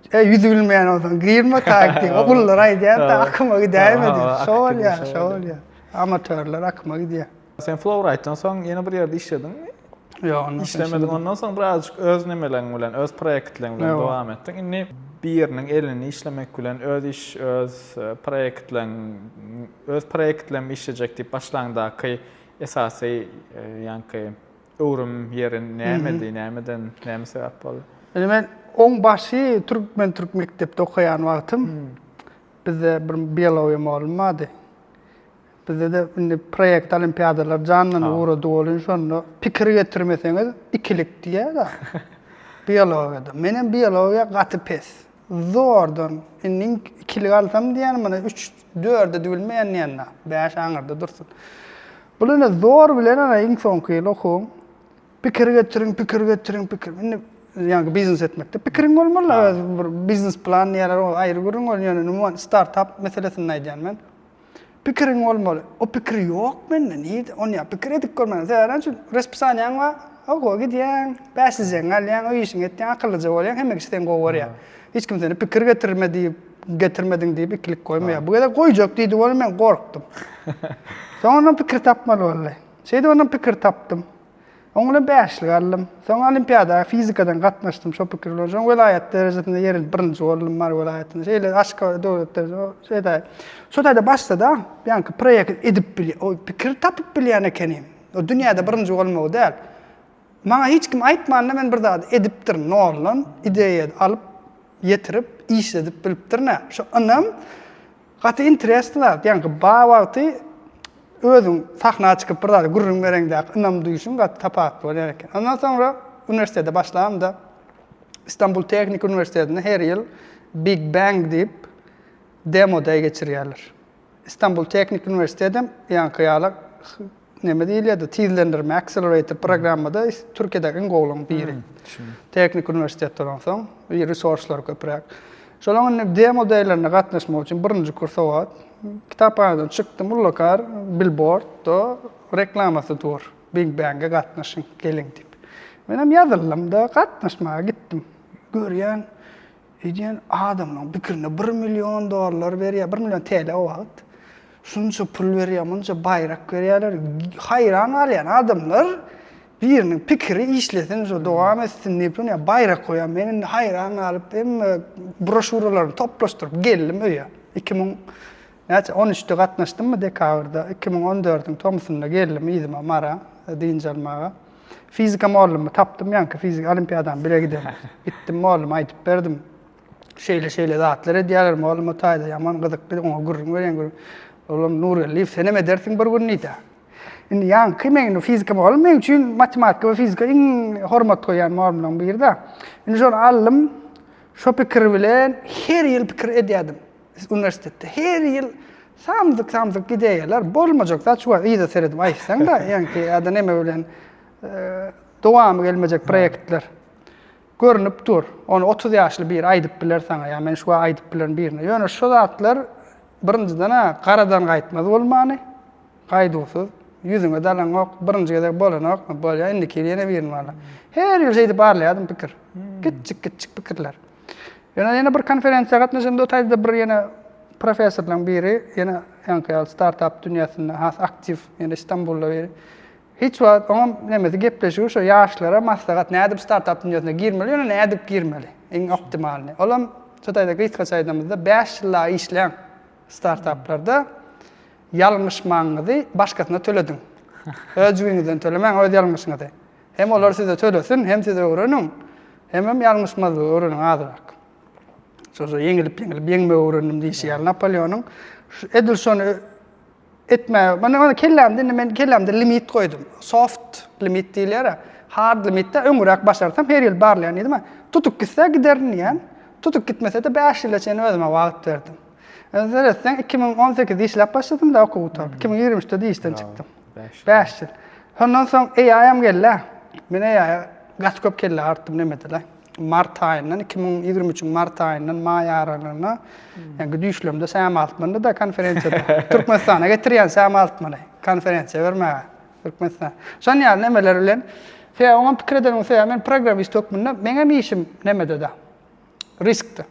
Eý, ýüzübilmeýän bolsaň, girmekak diýip, ogullar aýdýar-da, akyma gidäýme diýip. Şo bolýar, şo bolýar. Amatörler akyma gidýär. Sen Flowrite-dan soň ýene bir ýerde işlediňmi? Ýok, ondan soň işlemediň. Ondan soň birazjyk öz nemeleriň bilen, öz proýektleriň bilen dowam etdiň. Indi biriniň elini işlemek bilen öz iş, öz e, proýektleriň, öz proýektlerimi işlejek diýip başlaňdaky esasy e, ýaňky öwrüm ýeri nämedi, nämeden, näme sebäp boldy? Indi men oň başy türkmen türk mekdepde okaýan wagtym hmm. bizde bir biologiýa mugallym bardy. Bizde-de indi proekt olimpiadalar janlanyp ugrady welin şonda pikir getirmeseňiz ikilik diýýäda biologiýada. Menem biologiýa gaty pes. Zordan indi ikilik alsam diýýän mana üç dörde düwülmeýän diýýän-de. Bäş aňyrda dursun. Bul indi zor bilen ana iň soňky ýyl okuwyň. Pikir getiriň, pikir getiriň, pikir. Indi ýaňky biznes etmekde pikiriň bolmaly-la özüň bir biznes plan diýýärler ol aýry gürrüň welin ýöne umuman startap meselesinde aýdýan men. Pikiriň bolmaly. O pikir ýok mende. Nirde? Ony ýa pikir edip görmäliň. Sebäbi näçe? Respisaniýaň bar. Oguwa gidýäň, bäş jeň alýaň, öý işiňi etýäň, akyllyja bolýaň, hemme kişi seni gowy görýär. Hiç kim seni pikir getirme diýip, getirmediň diýip ikilik goýmaýar. Bu gezek goýjak diýdi, ony men gorkdum. Soň ondan pikir tapmaly boldy. Şeýdip ondan pikir tapdym. Oňuna bäşlik aldym. Soň olimpiada fizikadan gatnaşdym şo pikir bilen. Soň welaýat derejesinde ýerilip birinji boldum Mary welaýatynda. Şeýle Aşgabat döwlet dereje şeý taýy. Şo taýda başda-da ýaňky proýekt edip bilýän, o pikir tapyp bilýän ekenim. O dünýäde birinji bolmagy däl. Maňa hiç kim aýtman-da men bir zady edipdirin, noldan ideýa alyp, ýetirip, işledip bilipdirin-ä. Şo ynam. Gaty interesny zat, ýa gba wagty özüň sahna çykyp bir zada gürrüň bereňde ynam duýşuň gaty tapawutly bolýar eken. Ondan soňra uniwersitete başlamda Istanbul Tehniki uniwersitetinde her ýyl Big Bang diýip Demo Day geçirýärler. Istanbul Tehniki uniwersitetem ýaňky ýala neme diýilýärdi, tizlendirme, accelerator, programmada Türkiýedäki iň gowularyň biri. Tehnik uniwersitetde bolan soň, bir resurslary köpräk. Şolaň indi demo deýlerine gatnaşmak üçin birinji kurs obat. Kitaphanadan çykdym, ullukar bilbordda reklamasy dur. Big Bang-e gatnaşyň, geliň diýip. Menem ýazyldym-da, gatnaşmaga gitdim. Görýän, Öýdýän adamlaň pikirinde bir million dollar berýär, bir million TL o wagt. Şunça pul berýär, munça baýrak berýärler. Haýran galýan adamlar biriniň pikiri işlesin, şu dowam etsin diýip, ýa baýrak goýan. Men indi haýran galyp, hemme broşuralaryny toplaşdyryp geldim öýe. 2000 Näçe, on üçde gatnaşdymmy dekabrda, iki müň on dördüň tomusynda geldim yzyma, Mara, dynç almaga. Fizika mollummy tapdym, ýaňky fizika olimpiadam bile giden. Gitdim molluma aýdyp berdim. Şeýle-şeýle zatlar edýärler, mollum o taýda ýaman gyzykly, oňa gürrüň berýän gürrüň. Olam, Nurgeldiýew, senem edersiň bir gün diýdi. Indi ýaňky meň fizika mollum meň üçin matematika we fizika iň hormat goýýan mollumlaryň biri-de. Indi şony aldym, şo pikir bilen her ýyl pikir edýärdim. Uniwersitetde her ýyl samsyk-samsyk gidäýýärler. Bolmajak zat şu wagt yza seredip aýtsaň-da, ýaňky ýa-da neme bilen dowamy gelmejek proýektler görnüp dur. Ony otuz ýaşly biri aýdyp biler saňa ýa men şu wagt aýdyp bilerin birine. Ýöne şu zatlar birinjiden-ä garadan gaýtmaz bolmany, gaýduwsyz, ýüzüňe dalaňok, birinji gezek bolanok, bolýar, indiki ýyl ýene birini barlar. Her ýyl şeýdip arlaýardym pikir. Kiçjik-kiçjik pikirler. Ýöne ýene bir konferensiýa gatnaşanda o taýda bir ýene professorlaryň biri ýene ýaňky ýaly startap dünýäsinde has aktiw ýene Stambulda biri hiç wagt oňam nemesi gepleşigi şu ýaşlara maslahat nädip startap dünýäsine girmeli ýöne nädip girmeli iň optimalny olam şu taýda gysgaça aýdamyzda bäş ýyl dagy işläň startaplarda ýalňyşmaňyzy başgasyna tölediň öz jübiňizden tölemäň öz ýalňyşyňyzy Hem olar size tölesin, hem siz öwreniň, hemem ýalňyşmazlygy öwreniň azrak. Şo-şo ýeňilip, ýeňilip, ýeňmegi öwrendim diýşi ýaly Napoleonyň edil şony etmäge, mana kellämde indi men kellämde limit goýdum. Soft limit diýilýär-ä. Hard limitde öňüräk başarsam her ýyl barlaýyn diýdim-ä. Tutup gitse giderin diýýän. Tutup gitmese-de bäş ýyla çenli özüme wagt berdim. Indi seretseň iki müň on sekizde işläp başladym-da okuw gutaryp, iki müň ýigrimi üçde-de işden çykdym. Bäş. Bäş ýyl. Şondan soň AI-am geldi. Men AI-a gaty köp kelle artdym nemede-le. Mart aýyndan, iki müň ýigrimi üçüň mart aýyndan maý aralygyna, ýaňky düýşlemde Sam Altmany-da konferensiýada, Türkmenistana getirýän Sam Altmany, konferensiýa bermäge, Türkmenistana. Şon ýaly nemeler bilen. Sebäbi oňam pikir edenimiň sebäbi, men programmist hökmünde, meňem işim nemede-de, riskde.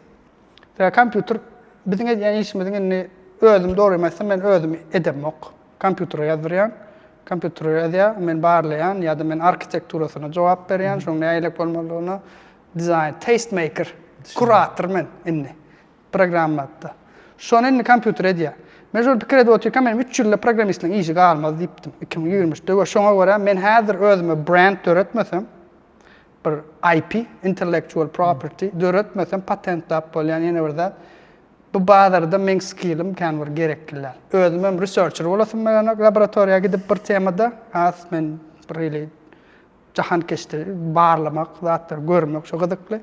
Sebäbi kompýuter, biziň edýän işimiziň indi özüm dogrymy aýtsam, men özüm edemok. Kompýutere ýazdyrýaň. Kompýutere ýazýar, men barlaýan ýa-da men arkitekturasyna jogap berýän, şoň näilelik bolmalydygyna, dizaýn, taste maker, kurator men indi programmatda. Şony indi kompýuter edýär. Men şol pikir edip otyrkam, menem üç ýylda programmistligiň işi galmaz diýipdim, iki müň ýigrimi üçde we şoňa görä men häzir özüme brend döretmesem, bir IP, intellectual property, döretmesem patentläp bolýan ýene bir zat, Bu bazarda meň skillim kän bir gerekliler. Özümem researcher bolasym baranok laboratoriýa gidip bir temada. Has men bir ili jahankeşde barlamak zatlary görmek şo gyzykly.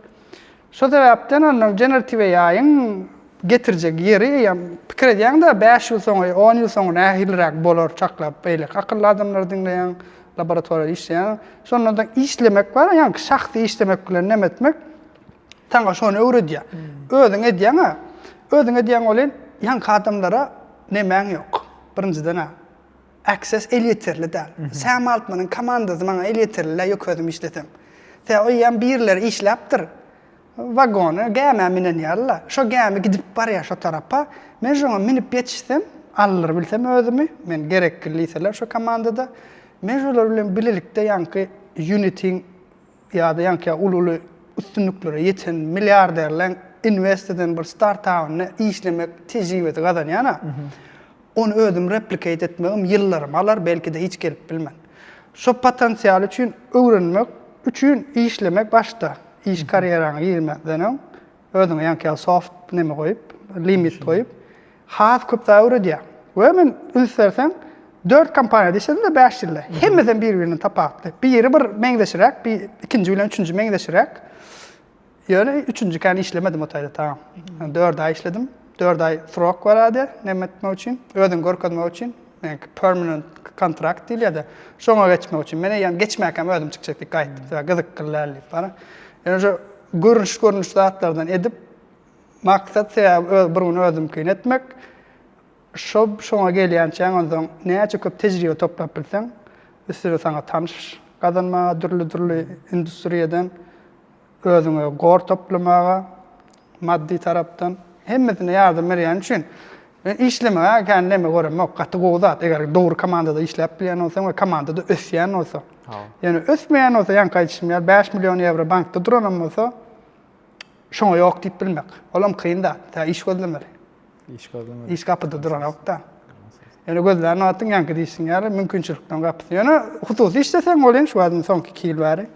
Şo sebäpden ondan generative AI-yň getirjek ýeri eýýäm pikir edýäňdä bäş ýyl soňy, on ýyl soňy nähiliräk bolar çaklap beýleki akylly adamlary diňleýäň, laboratoriýada işleýäň. Şondan soň işlemek bar, ýaňky şahsy işlemek bilen näme etmek. saňa şony öwredýär. Özüň edýäň-ä. Özüň edýäň welin, ýaňky adamlara nemäň ýok. Birinjiden-ä, access elýeterli däl. Sam Altmanyň komandasy maňa elýeterli däl, ýöke özüm işlesem. Sebäbi eýýäm birileri işläpdir. Wagony, gämä minen ýaly-la. Şo gämi gidip barýar şo tarapa. Men şoňa münüp ýetişsem, aldyr bilsem özümi, men gerekli diýseler şo komandada, men şolar bilen bilelikde ýaňky Unity-iň Ýa-da ýaňky uly-uly üstünliklere ýeten milliarderleň invest eden bir startawynda işlemek tejribesi gazanýan-a, ony özüm replikate etmegim ýyllarymy alar, belki-de hiç gelip bilmen. Şo potensial üçin öwrenmek üçin işlemek başda, iş karýeraňa girmezden öň Özüňe ýaňky ýaly soft neme goýup, limit goýup, has köp zat öwredýär. We men üns berseň, dört kompaniýada işledim-de bäş ýylda. Hemmesi hem biri-birinden tapawutly. Biri bir meňzeşiräk, bi ikinji bilen üçünji meňzeşiräk. Ýöne üçünjikän işlemedim o taýda ta. Dört aý işledim. Dört aý srok barady, neme etmek üçin, özüňi görkezmek üçin. Meňki permanent kontrakt diýilýär-de, şoňa geçmek üçin. Men eýýäm geçmäkäm özüm çykjak diýip gaýtdym. Sebäbi gyzykly däl diýip bara. Ýöne şo görnüş-görnüş zatlardan edip, maksat sebäbi bir gün özümkini etmek. Şo şoňa gelýänçäň onsoň näçe köp tejribe toplap bilseň, üstüne saňa tanyş gazanmaga dürli-dürli industriýadan özüňe gor toplamaga, maddy tarapdan hemmesine ýardam berýäni üçin men işlemegä kän neme göremok. Gaty gowy zat, eger dogry komandada işläp bilýän bolsaň we komandada ösýän bolsa. Ýöne ösmeýän bolsa ýaňky aýdyşym ýaly bäş million ýewro bankda duranam bolsa şoňa ýok diýip bilmek. Olam kyn zat. Tä iş gözlemeli. Iş gözlemeli. Iş gapyda duranokda. Ýöne gözlän wagtyň ýaňky diýşiň ýaly mümkinçilikleriň gapysy. Ýöne hususy işleseň bolýan şu wagtdan soňky iki ýyl bäri.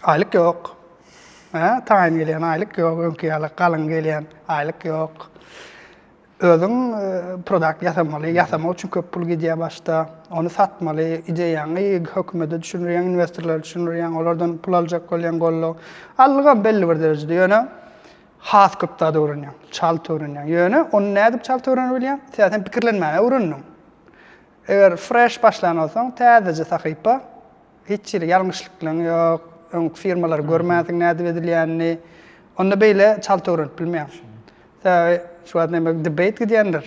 Aýlyk ýok. Hä, taýyn gelýän aýlyk ýok, öňki ýaly galyň gelýän aýlyk ýok. Özüň produkt ýasamaly, ýasamak üçin köp pul gidýär başda. Ony satmaly, ideýaňy hökümete düşündirýäň, inwestorlara düşündirýäň, olardan pul aljak bolýaň goldaw. Allygam belli bir derejede, ýöne has köp zat öwrenýäň, çalt öwrenýäň. Ýöne ony nädip çalt öwrenebilýäň? Sen pikirlenmäge öwrendiň. Eger fresh başlan bolsaň, täzeje sahypa, hiç hili ýalňyşlyklaň ýok, öňki firmalary görmänsiň nädip edilýänini, onda beýle çalt öwrenip bilmeýäň. Sebäbi şu wagt näme debate gidýändir.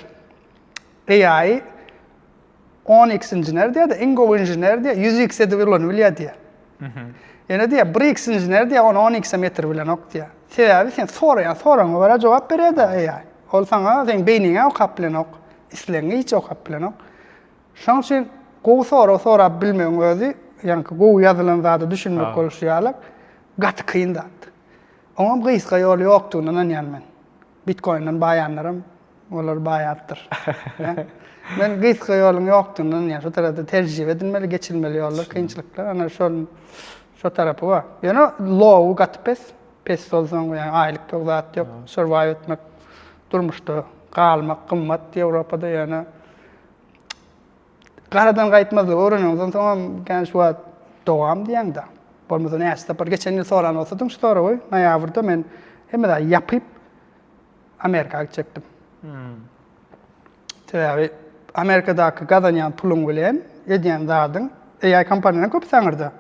AI on x inžener diýýär-de, iň gowy inžener diýýär, ýüz x edip ulanybilýär diýýär. Ýöne diýýär, bir iks inžener diýýär, ony on ikse metr bilenok diýýär. Sebäbi sen soraýan soragyňa görä jogap berýär-de AI. Ol saňa seň beýniňä okap bilenok, islegiňe hiç okap bilenok. Şonuň üçin gowy sorag sorap bilmegiň özi, ýaňky gowy ýazylan zada düşünmek bolşy ýaly, gaty kyn zat. Oňam gysga ýoly ýokdugyna ynanýan men. Bitkoinden baýanlaram. Olar baýapdyr. Men gysga ýoluň ýokdugyndan ýa şu tarapda terjibe edilmeli, geçilmeli ýollar, kynçylyklar, ana şol şo tarapy bar. Ýöne low-y gaty pes. Pes bolsaň ýa aýlyk ýok, zat ýok. Survive etmek, durmuşda galmak gymmat Ýewropada ýöne garadan gaýtmazlygy öwreneňiz onsoňam kän şu wagt dowam diýeňda. Bolmasa näçe sapar geçen ýyl soran bolsadyň şu soragy noýabrda men hemme zady ýapyp Amerika gitjekdim. Hmm. Sebäbi Amerikadaky gazanýan puluň bilen edýän zadyň AI kompaniýalaryň köp saňyrda.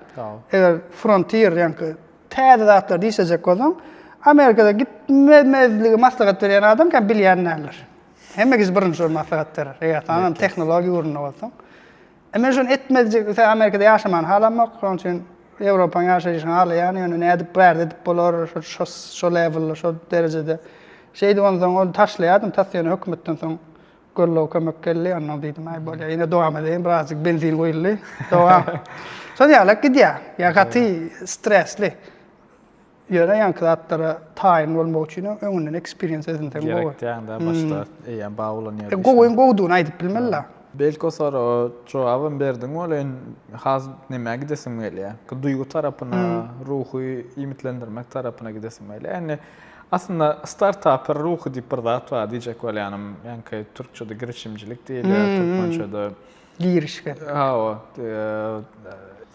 Eger Frontier ýaňky täze zatlar diýsejek bolsaň, Amerikada gitmemezligi maslahat berýän adam kem bilýän däldir. Hemme kişi birinji maslahat berer. Eger saňam tehnologiýa ugrunda bolsaň. E men şony etmezjik ise Amerikada ýaşamany halamok, şonuň üçin Ýewropanyň ýaşaýşyny halaýan, ýöne nädip bu ýerde edip bolar, şo lewelde, şo derejede. Şeýdip onsoň ony taşlaýardym, tas ýöne hökümetden soň goldaw kömek geldi, onnoň diýdim, aý bolýar, ýene dowam edeýin, birazjyk benzin guýuldy, dowam. Şol ýaly gidýär, ýa gaty stresli. Ýaraýanky zatlara taýyn bolmak üçin hem öňünden eksperiens edinseň gowy. Gerek däňdä başda eýýäm bar bolan ýerde. Gowyň gowudygyny aýdyp bilmeli-la. Belki o soraga jogabam berdiň boleýin, has nämä gidesim gelýär? Bu duýgy tarapyna, ruhy iýmitlendirmek tarapyna gidesim gelýär. Indi aslynda startaper ruhy diýip bir zat bar diýjek bolýanym. Ýaňky türkçede girişimçilik diýilýär, türkmençede. girişmek. Hawa,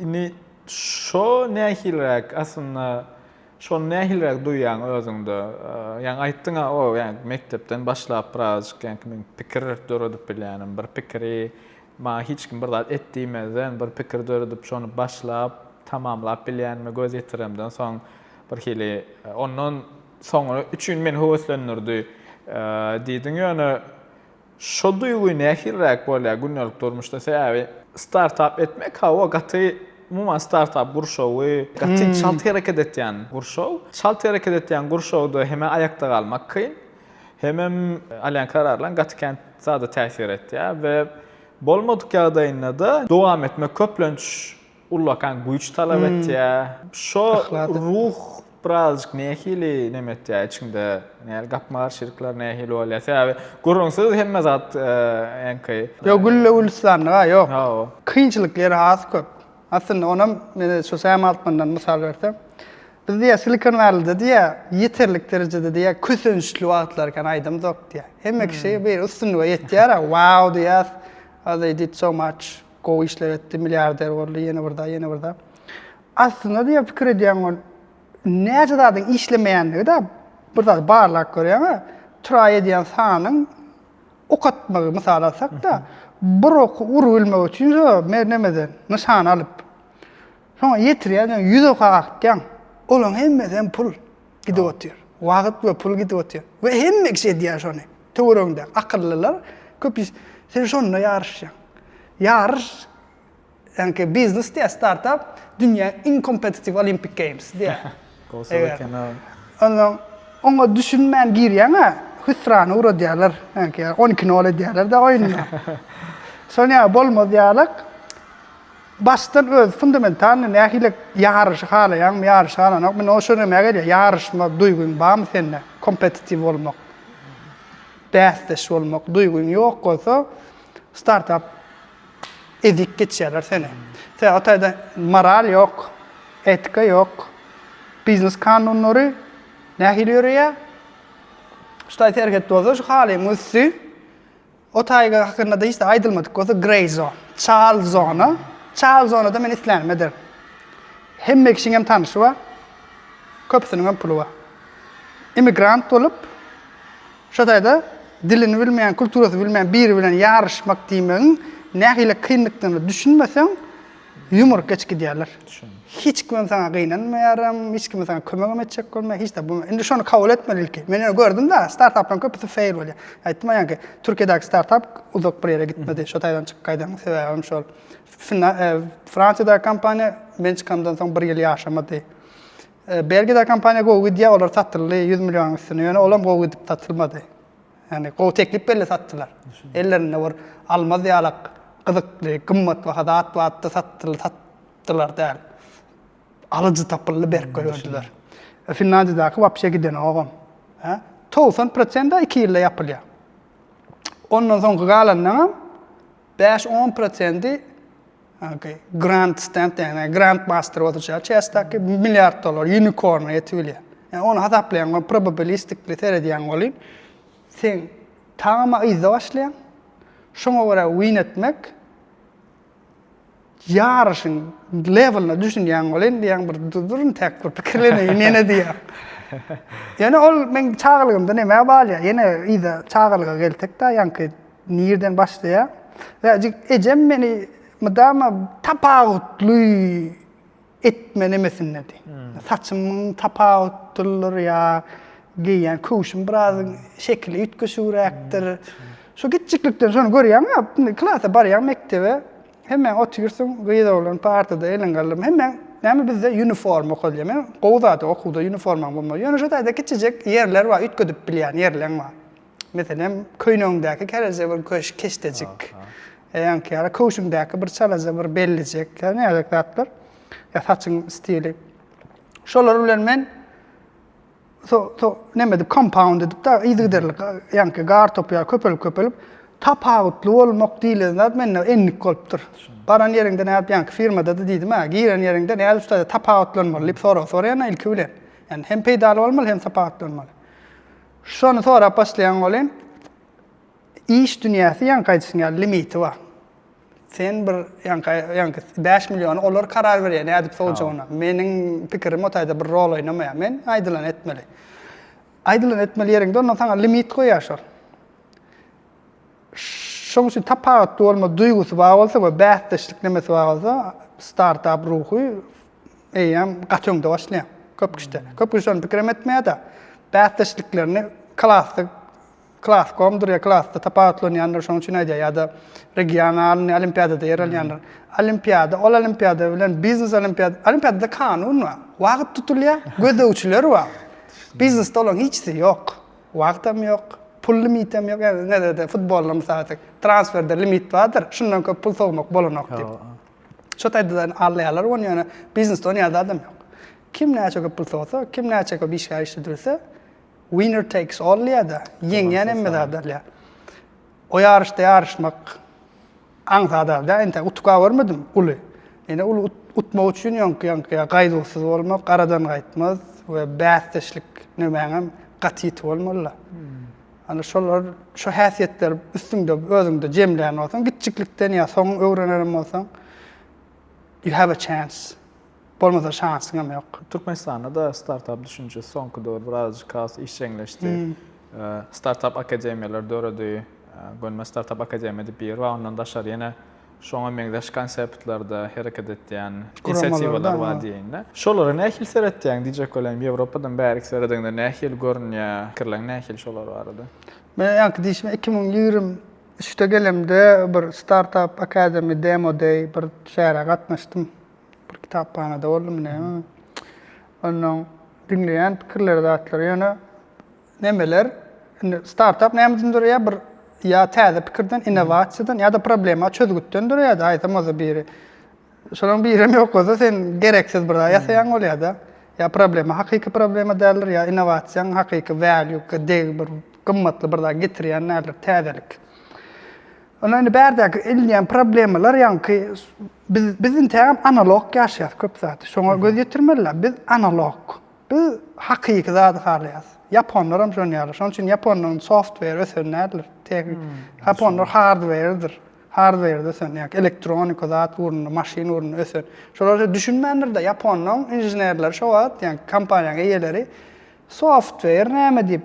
indi şo nähiliräk aslynda şony nähiliräk duýýaň özüňde? Ýaňy aýtdyň-a, o ýaňky mekdepden başlap birazajyk ýaňky men pikir döredip bilýänim, bir pikiri maňa hiç kim bir zat et diýmezden bir pikir döredip şony başlap, tamamlap bilýänime göz ýetiremden soň birhili ondan soňra üçin meni höweslendirdi diýdiň. Ýöne Şo duýgy nähiliräk bolýar gündelik durmuşda? Sebäbi startap etmek hawa gaty umuman startap gurşawy gaty çalt hereket etýän gurşaw. Çalt hereket etýän gurşawda hemem aýakda galmak kyn, hemem alýan kararlaryň gaty kän zada täsir etýär we bolmadyk ýagdaýynda-da dowam etmek köplenç ullakan güýç talap etýär. Şo ruh birazjyk nähili neme etýär içiňde? Näl gapma-garşylyklar nähili bolýar? Sebäbi gürrüňsiz hemme zat eňki. Ýok, gülle-gülistanlyk-a ýok. Kynçylykly ýeri has köp. Aslynda onam men şu Sam Altmandan mysal bersem, biz diýýär Silikon Wellide diýýär, ýeterlik derejede diýýär kösençli wagtlar ekeni aýdymzok diýýär. Hemme kişi bir üstünlige ýetýär-ä, wow diýýäs, they did so much. gowy işler etdi, milliarder boldy, ýene bir zat, ýene bir zat. Aslynda diýen pikir edýän ol näçe zadyň işlemeýändigi de bir zat barlap görýän, traý edýän sanyň ok atmagy mysal alsak da, bir ok urup bilmek üçin şo mernemeden nyşan alyp, soňa ýetirýän, ýüz oka atýan. Olaň hemmesi hem pul. gidip otyr. Wagyt we pul gidip otyr. We hemme kişi edýär şony. Töweregiňde akyllylar köp iş. Sen şonda ýaryşýaň. Ýaryş ýaňky biznes diýýär startap dünýä iň kompetitiw olimpik games diýýär. Gowy eken o. Onda oňa düşünmän girýäňä hüsrana ugradýarlar. Ýaňky on iki nol edýärler-de oýunda. Şoň ýaly bolmaz ýalyk. Başdan öz fundamentalnyý nähile ýaryşy halaýaňmy, ýaryşy halanok, mine o şoňa emä gelýär, ýaryşma duýgyň barmy sende, kompetitiw bolmak, bäsdeş bolmak duýgyň ýok bolsa, startap ezip geçýärler seni. Sebäbi o taýda moral ýok, etika ýok, biznes kanunlary nähili ýöreýär, şu taýy serhet bolsa şu halyň üsti O taýga hakynda-da hiç zat aýdylmadyk bolsa, grey zone, çal zona. Çal zonada men islänimi ederin. Hemme kişiň hem tanyşy bar. Köpüsiniň hem puly bar. Immigrant bolup, şo taýda dilini bilmeýän, kulturasy bilmeýän biri bilen ýaryşmak diýmegiň nähili kynlykdygyna düşünmeseň, Ýumrup geçip gidýärler. Hiç kimem saňa gynanmaýaram, hiç kime saňa kömegem etjek bolmaýar, hiç zat bolmaýar. Indi şony kabul etmeli ilki. Men ýöne gördüm-de, startaplaryň köpüsi fail bolýar. Aýtdym-a ýaňky, Türkiýedäki startap uzak bir ýere gitmedi, şo taýdan çykyp gaýdanymyň sebäbi hem şol. Fransiýadaky kompaniýa men çykamdan soň bir ýyl ýaşamady. Belgiýadaky kompaniýa gowy gidýär, olar satyldy ýüz millionuň üstüne, ýöne olam gowy gidip satylmady. Ýagny gowy teklip belle satdylar. Ellerinde bir almaz ýalak gyzykly, gymmatbaha zat bardy, satdylar, satdylar däl. Alyjy tapyldy, berk goýberdiler. Finlandiýadaky wapşe gidenogam. Hä? Togsan prosent-ä iki ýylda ýapylýar. Ondan soňky galanlaram bäş-on prosendi Okey. Grand stand ýagny grand master oturýar çästeki milliard dollar unicorn ýetip bilýär. Ýa ony hasaplaýan we probabilistikli seredýän bolýan. Sen tagama yzda başlaýan. Şoňa görä win etmek ýaryşyň lewelna düşünýän bolýan diýen bir durun täk bir pikirleneýin ýene diýýär. Ýöne ol men çagalygymda nämä balýar ýene yzda çagalyga gelsek da ýaňky Nirden başlaýar? Bäjik ejem meni mydama tapawutly etme nemesindedi. Saçymyň tapawutdylyr ýa geýýän köwşüm biraz şekili üýtgeşigräkdir. Şu kiçjiklikden şony görýäň ýa, indi klasa barýaň mekdebe, hemmäň otyrsyň, gyz-oglan partada eliň galdyrma, hemmäň näme bizde ýuniforma okalýar. Men gowy zat okuwda ýuniformaň bolmagy. Ýöne şo taýda kiçijek ýerler bar, üýtgedip bilýän ýerleň bar. Meselem, köýnegiňdäki kereje bir köş, keşdejik, ýaňky ýaly köwşüňdäki bir çalaja bir bellijek, ýa näzek zatlar, ýa saçyň stili. Şolar bilen men so, so, neme edip, compound edip, da, yzygiderli, ýaňky gar topy ýaly köpelip, köpelip, tapawutly bolmak diýlen zat mende endik bolupdyr. Baran ýeriňde nädip, ýaňky firmada-da diýdim, hä, giren ýeriňde nädip şutada tapawutlanmaly diýip sorag soraýan ilki bilen. Ýani hem peýdaly bolmaly, hem tapawutlanmaly. Şony sorap başlaýaň welin, iş dünýäsi ýaňky aýdyşyň ýaly limiti bar. Sen bir ýaňky ýaňky bäş milliony olar karar berýär nädip sowjagyna. Meniň pikirim o taýda bir rol oýnamaýar. Men aýdylany etmeli. Aýdylany etmeli ýeriňde ondan saňa limit goýýar şol. Şoň üçin tapawutly bolma duýgusy bar bolsa we bäsdeşlik nemesi bar bolsa, startap ruhy eýýäm gaty öňde başlaýar. Köp kişide. Köp kişi şony pikirem etmeýär-de. Bäsdeşliklerini klasda, klas komdur ýa klasda tapawutlanýandyr, şoň üçin aýdýar ýa-da regionalnyý olimpiadada ýer alýandyr. Olimpiada, ol olimpiada bilen biznes olimpiada, olimpiadada kanun bar, wagt tutulýar, gözegçiler bar. Biznesde olaryň hiçsi ýok. Wagtam ýok, pul limitem ýok, ýagny näzirede futbolda mysal aýtsak, transferde limit bardyr, şundan köp pul sowmak bolanok diýip. Şo taýda-da alýarlar ony, ýöne biznesde ony ýaly adam ýok. Kim näçe köp pul sowsa, kim näçe köp işgär işledirse, winner takes all diýýär-de, ýeňýän hemme zady alýar. O ýaryşda ýaryşmak aňsat zat däl, entäk utuka görmedim uly. Ýöne uly utmak üçin ýoňky-ýaňky ýa gaýduwsyz bolmak, garadan gaýtmaz we bäsdeşlik nömäňem gaty ýiti bolmaly-la. Ana şolar, şo häsiýetleri üstüňde, özüňde jemlän bolsaň, kiçjiklikden ýa soň öwrenenem bolsaň, you have a chance. Bolmasa şansyň hem ýok. Türkmenistanda da startap düşünjesi soňky döwür birazajyk has işjeňleşdi. Startap akademiýalar döredi. Gönme startap akademiýa diýip bir bar, ondan daşary ýene şoňa meňzeş konseptlerde hereket etýän inisiatiwalar bar diýeýin-de. Şolara nähili seretýäň? Diýjek bolan, Ýewropadan bäriki seredeňde nähili görünýär? Pikirleň nähili şolar barada? Men ýaňky diýşime iki müň ýigrimi üçde gelemde bir startap akademi demo day bir çärä gatnaşdym. bir kitaphanada boldum näme onnoň diňleýän pikirleri zatlary ýöne nemeler indi startap näme üçin durýar bir ýa täze pikirden innowasiýadan ýa-da problema çözgütden durýar-da aýtsam oza biri şolaryň birem ýok bolsa sen gereksiz bir zat ýasaýaň bolýar-da ýa problema hakyky problema däldir ýa innowasiýaň hakyky value degi bir gymmatly bir zat getirýän nädip täzelik. Onda indi bärdäki edilýän problemalar ýaňky biz biz intägem analog ýaşaýas köp zady. Şoňa göz ýetirmeliler. Biz analog. Biz hakyky zady halaýas. Ýaponlaram şony ýaly. Şonuň üçin ýaponlaryň software ösen nädler? Teg. Ýaponlar hardware-dir. Hardware-de ösen, ýa elektronika zat ugrunda, maşyn ugrunda ösen. Şolar şo düşünmändir-de, ýaponlaryň inženerleri şo wagt, ýa kompaniýanyň eýeleri software näme diýip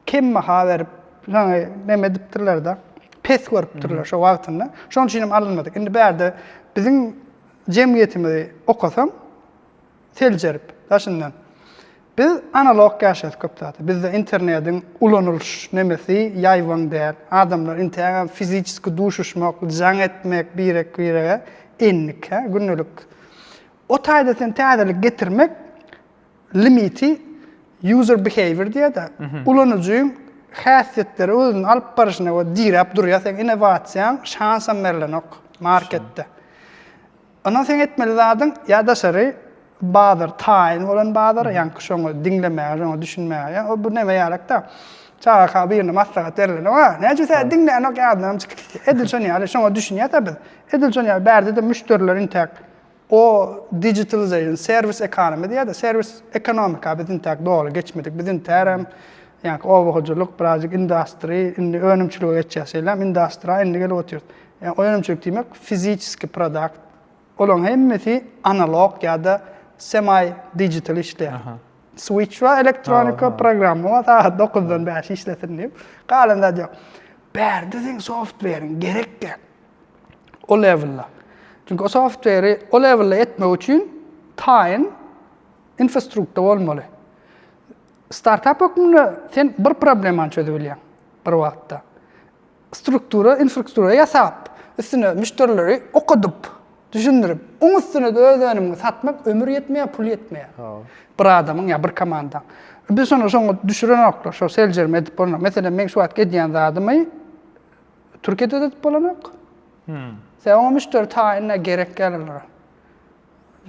Kem baha berip, ýaňy neme edipdirler-de, pes görüpdirler şo wagtynda. Şonuň üçin hem alynmadyk. Indi bärde biziň jemgyýetimizi okasaň, seljerip, daşyndan, biz analog ýaşaýas köp zat. Bizde internediň ulanylyş nemesi ýaýbaň däl. Adamlar intägem fiziçeski duşuşmak, jaň etmek birek-birege endik-ä, gündelik. O taýda sen täzelik getirmek, Limiti user behavior diýýär-de, ulanyjyň häsiýetleri özüni alyp barşyna görä diräp durýar, seň innowasiýaň şansam berlenok marketde. Ondan seň etmeli zadyň ýa daşary bazar, taýyn bolan bazar, ýaňky şoňa diňlemäge, şoňa düşünmäge. Ýa o bu näme ýalakda? Çagaka birine maslahat berlenok-a, näçe biz hä diňlänok ýadyndanam çykypdy. Edil şonuň ýaly, şoňa düşünýäs-ä biz. Edil şonuň ýaly bärde-de müşderiler intäk O digitalization, serwis ekonomy diýýärdi. Serwis ekonomika biz intäk doly geçmedik. Biz intärem ýaňky oba hojalyk, birazjyk industry, indi önümçilige geçýäs. Şeýlem industry-a indi gelip otyrys. Ýagny önümçilik diýmek fiziçeskiý produkt. Olaryň hemmesi analog ýa-da semi digital işleýär. Switch bar, elektronika, programma bar, sagat dokuzdan bäşe işlesin diýip. Galan zat ýok. Bärde seň softweriň gerek däl. o lewelda. Çünki o software o lewelda etmek üçin taýyn infrastrukta bolmaly. Startap hökmünde sen bir problemany çözüp bilýäň bir wagtda. Struktura, infrastruktura ýasap, üstüne müşderileri okadyp, düşündirip, oň üstüne de öz önümiňi satmak ömür ýetmeýär, pul ýetmeýär. Bir adamyň ýa bir komandaň. Biz şony şoňa düşürenoklar, şo seljerme edip bolmaz. Meselem, meň şu wagtky edýän zadymy Türkiýede satyp bolanok. Sen oňa müşderi taýynla gerek ýaly olara.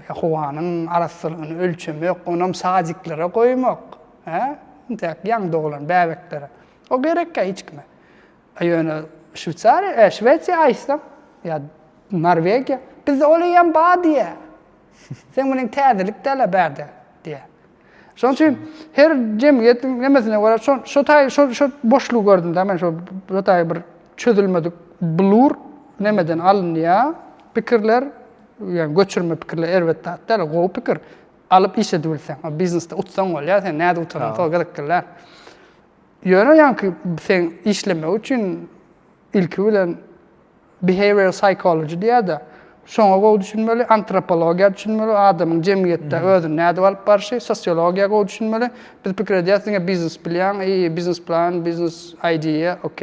Howanyň arassalygyny ölçemek, onam sadiklere goýmak, hä? Intäk ýaňy doglan bäbeklere. O gerekkä hiç kime. A ýöne Şweýsariýa, e, Şwesiýa aýtsaň, ýa Norwegiýa, bizde ol eýýäm bar diýýär. Sen munyň täzelik däl-a bärde diýýär. Şonuň üçin her jemgyýetiň nemesine görä şo şo taý şo şo boşlugy gördüm-de men şo bu taý bir çözülmedik blur nemeden alynýar pikirler, ýa göçürme pikirler erbet zat däl, gowy pikir. Alyp iş edip bilseň, o biznesde utsaň bolýar, sen näde utanyň, şol gyzyk gelýär. Ýöne ýaňky sen işlemek üçin ilki bilen Behavioral psychology diýer-de, şoňa gowy düşünmeli, antropologiýa düşünmeli, adamyň jemgyýetde özüni nädip alyp barşy, sosiologiýa gowy düşünmeli. Biz pikir edýäris, diňe biznes bilýäň, eý, biznes plan, biznes idea, ok,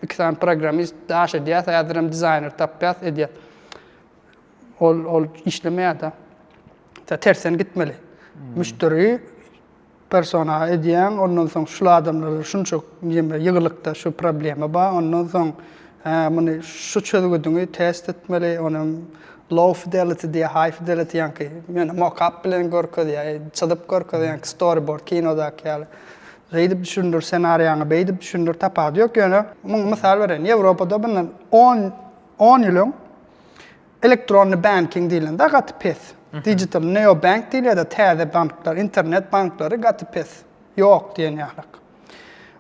iki sany programmist, daş edýäs, häzirem dizaýner tapýas, edýäs. Ol, ol işlemeýär-de. Tersen gitmeli. Müşderi Persona edýäň, ondan soň şul adamlarda şunça neme ýygylykda şu problema bar, ondan soň hä muny şu çözgüdiňi test etmeli, ony hem low fidelity diýýär, high fidelity ýaňky ýöne mokap bilen görkezýär, çyzyp görkezýär ýaňky storyboard kinodaky ýaly. Şeýdip düşündir senariýaňy, beýdip düşündir tapady ýok ýöne muňa mysal bereýin. Ýewropada mundan on on ýyl öň Elektronny banking diýlende gaty pes. Digital neobank diýilýär-de, täze banklar, internet banklary gaty pes, ýok diýen ýalyk.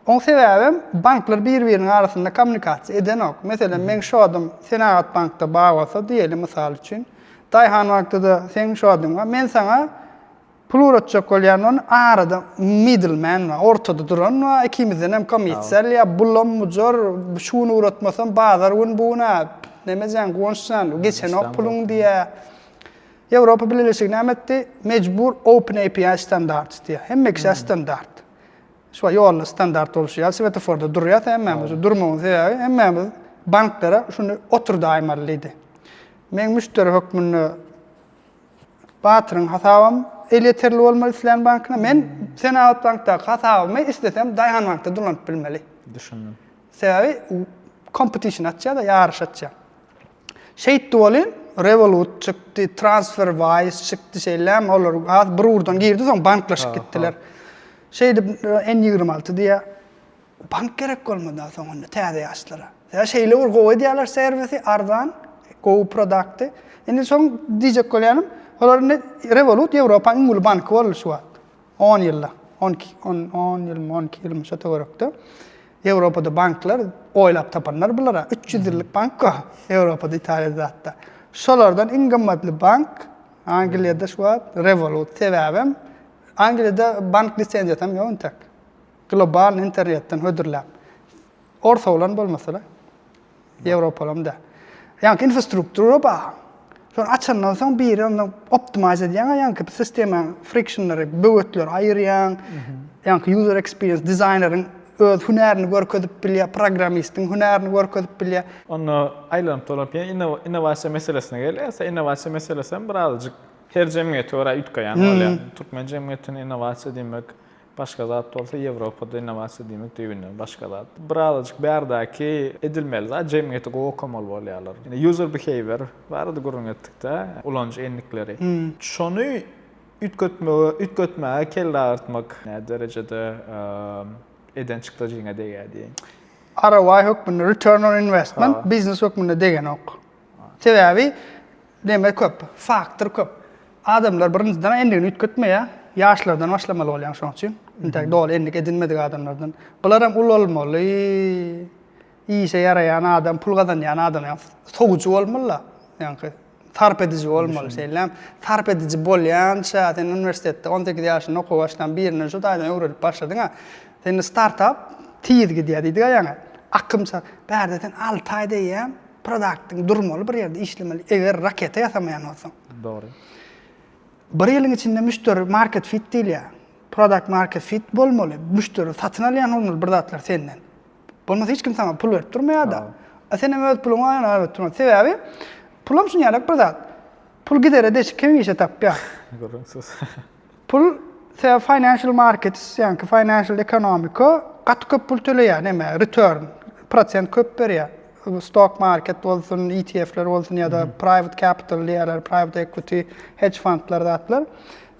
Oň sebäbem, banklar bir-biriniň arasynda kommunikasiýa edenok. Meselem, meň şodum Senagat bankda bar bolsa, diýeli, mysal üçin, Daýhan bankda-da seň şoduň bar, men saňa, Pul ugratjak bolýan ony arada middle man bar, ortada duran bar, ikimizden hem komissar ýa bulam bujar, şu gün ugratmasam bazar gün bu gün-ä neme jan Guwanç jan geçenok puluň diýýär. Ýewropa Bileleşigi näme etdi? Mejbur open API standart isleýär. Hemme kişä standart. Şuway ýolda standart bolşy ýaly swetoforda durýas hemmämiz. Durmagyň sebäbi hemmämiz banklara şuny oturdaýmaly diýdi. Meň müşderi hökmünde Batyryň hasabam elýeterli bolmaly islän bankyna. Men Senagat bankdaky hasabymy islesem Daýhan bankda dolanyp bilmeli. Düşündim. Sebäbi kompetişn açýar-da, ýaryş açýar. Şeýtdi welin, Revolut çykdy, TransferWise çykdy, şeýlem, olar has bir ugurdan girdi, soň banklaşyp gitdiler. Şeýdip, N-ýigrimi alty diýýär. Bank gerek bolmada soň onda täze ýaşlara. Ýa şeýle bir gowy edýärler servisi, arzan, gowy prodakty. Indi soň diýjek bolýanym, olar indi Revolut Ýewropanyň iň uly banky boldy şu wagt. On ýylda, on iki, on, on ýylmy, on iki ýylmy şo töwerekde. Ýewropada banklar oýlap tapanlar bular-a. Üç ýüz ýyllyk bank go, Ýewropada, Italiýada zat-da. Şolardan iň gymmatly bank Angliýada şu wagt Revolut. Sebäbem Angliýada bank lisenziýasy hem ýok intek. Global internetden hödürläp. Orta bolan bolmasa-da. Ýewropalam däl. Ýaňky infrastruktura bar. Şony açandan soň biri onda optimize edýäň ýaňky bir sistemany, frictionlary, böwetleri aýyrýaň. Ýaňky user experience dizaýneriň öz hünärini görkezip bilýär, programmistiň hünärini görkezip bilýär. Onda aýlanyp dolanyp ýene innowasiýa meselesine gelýäs. Innowasiýa meselesi hem birazajyk her jemgyýete görä üýtgeýän bolýar. Türkmen jemgyýetinde innowasiýa diýmek, Başga zat bolsa Ýewropada innowasiýa diýmek düýbünden başga zat. Birazajyk bärdäki edilmeli zat, jemgyýeti gowy okamaly bolýarlar. Indi user behavior barada gürrüň etdikde, ulanyjy endikleri. Şony üýtgetmegi, üýtgetmäge kelle agyrtmak nä derejede eden çykdajyňa degýär diýeýin. ROI hökmünde, return on investment, biznes hökmünde degenok. Sebäbi. Neme köp? Faktor köp. Adamlar birinjiden endigini üýtgetmeýär. Ýaşlardan başlamaly bolýaň şoň üçin. Intäk doly endik edinmedik adamlardan. Bularam ulalmaly. Işe ýaraýan adam, pul gazanýan adam ýa sowujy bolmaly-la. Ýaňky sarp ediji bolmaly. Şeýlem sarp ediji bolýança sen uniwersitetde on sekiz ýaşynda okuwa başlan birinden şu taýdan öwrenip başladyň-a. Sende startap tiz gidýär diýdik-ä ýaňy. Akym şa. Bärde sen alty aýda ýa. produktyň durmaly bir ýerde işlemeli eger raketa ýasamaýan bolsaň. Dogry. Bir ýylyň içinde müşderi market fit diýilýär. Product market fit bolmaly. Müşderi satyn alýan bolmaly bir zatlar senden. Bolmasa hiç kim sana pul berip durmaýar-da. A sen hem öz puluňy aýana berip durma. Sebäbi pulam şunyalak bir zat. Pul gidere deşik hemişe tapýar. Görüň söz. Pul se financial markets, ýaňky financial ekonomika gaty köp pul töleýär, neme, return, prosent köp berýär. Stock market bolsun, ETF-ler bolsun ýa-da private capital diýýärler, private equity, hedge fundlar zatlar.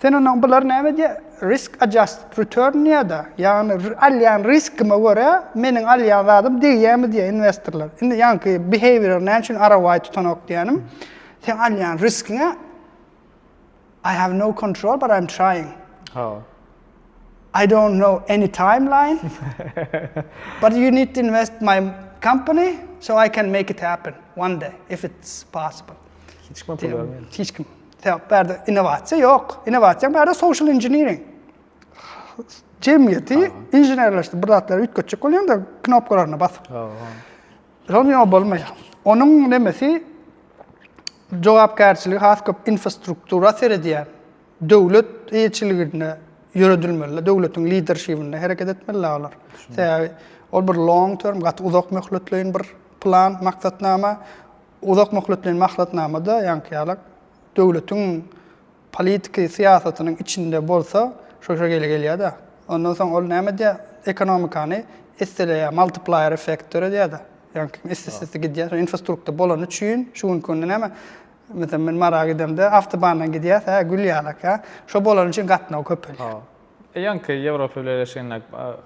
Sen onda bular näme diýýär? Risk adjusted return diýýär-de, ýagny alýan riskime görä meniň alýan zadym degýärmi diýýär inwestorlar. Indi ýaňky behavior näme üçin ROI tutanok diýýänim, sen alýan riskiňe I have no control but I'm trying. Oh. I don't know any timeline. but you need to invest my company so I can make it happen one day if it's possible. Hiç kim pul vermiyor. Hiç kim. Sebep berde inovasiýa ýok. Inovasiýa berde social engineering. Cemiyeti inženerleşdi. Bir zatlar üýtgetjek bolýanda knopkalaryna basyp. Ýoň ýoň bolmaýar. Onuň nemesi jogapkärçiligi has köp infostruktura seredýär. Döwlet eýeçiliginde ýöredilmeli, döwletiň liderşibinde hereket etmeli olar. Sebäbi ol bir long term, gaty uzak möhletleýin bir plan, maksatnama. Uzak möhletleýin maksatnamada ýaňky ýaly döwletiň Politiki syýasatynyň içinde bolsa şo şekili gelýär-de. Ondan soň ol näme edýär? Ekonomikany isseleýär, multiplier effekt döredýär-de. Ýagny kim issese gidýär. Şo infrastrukta bolany üçin şu günki günde näme? Meselem men Mara gidemde awtobandan gidýäs, hä, gül ýalak, hä. Şo bolany üçin gatnaw köpelýär. Ýaňky Ýewropa Bileleşiginde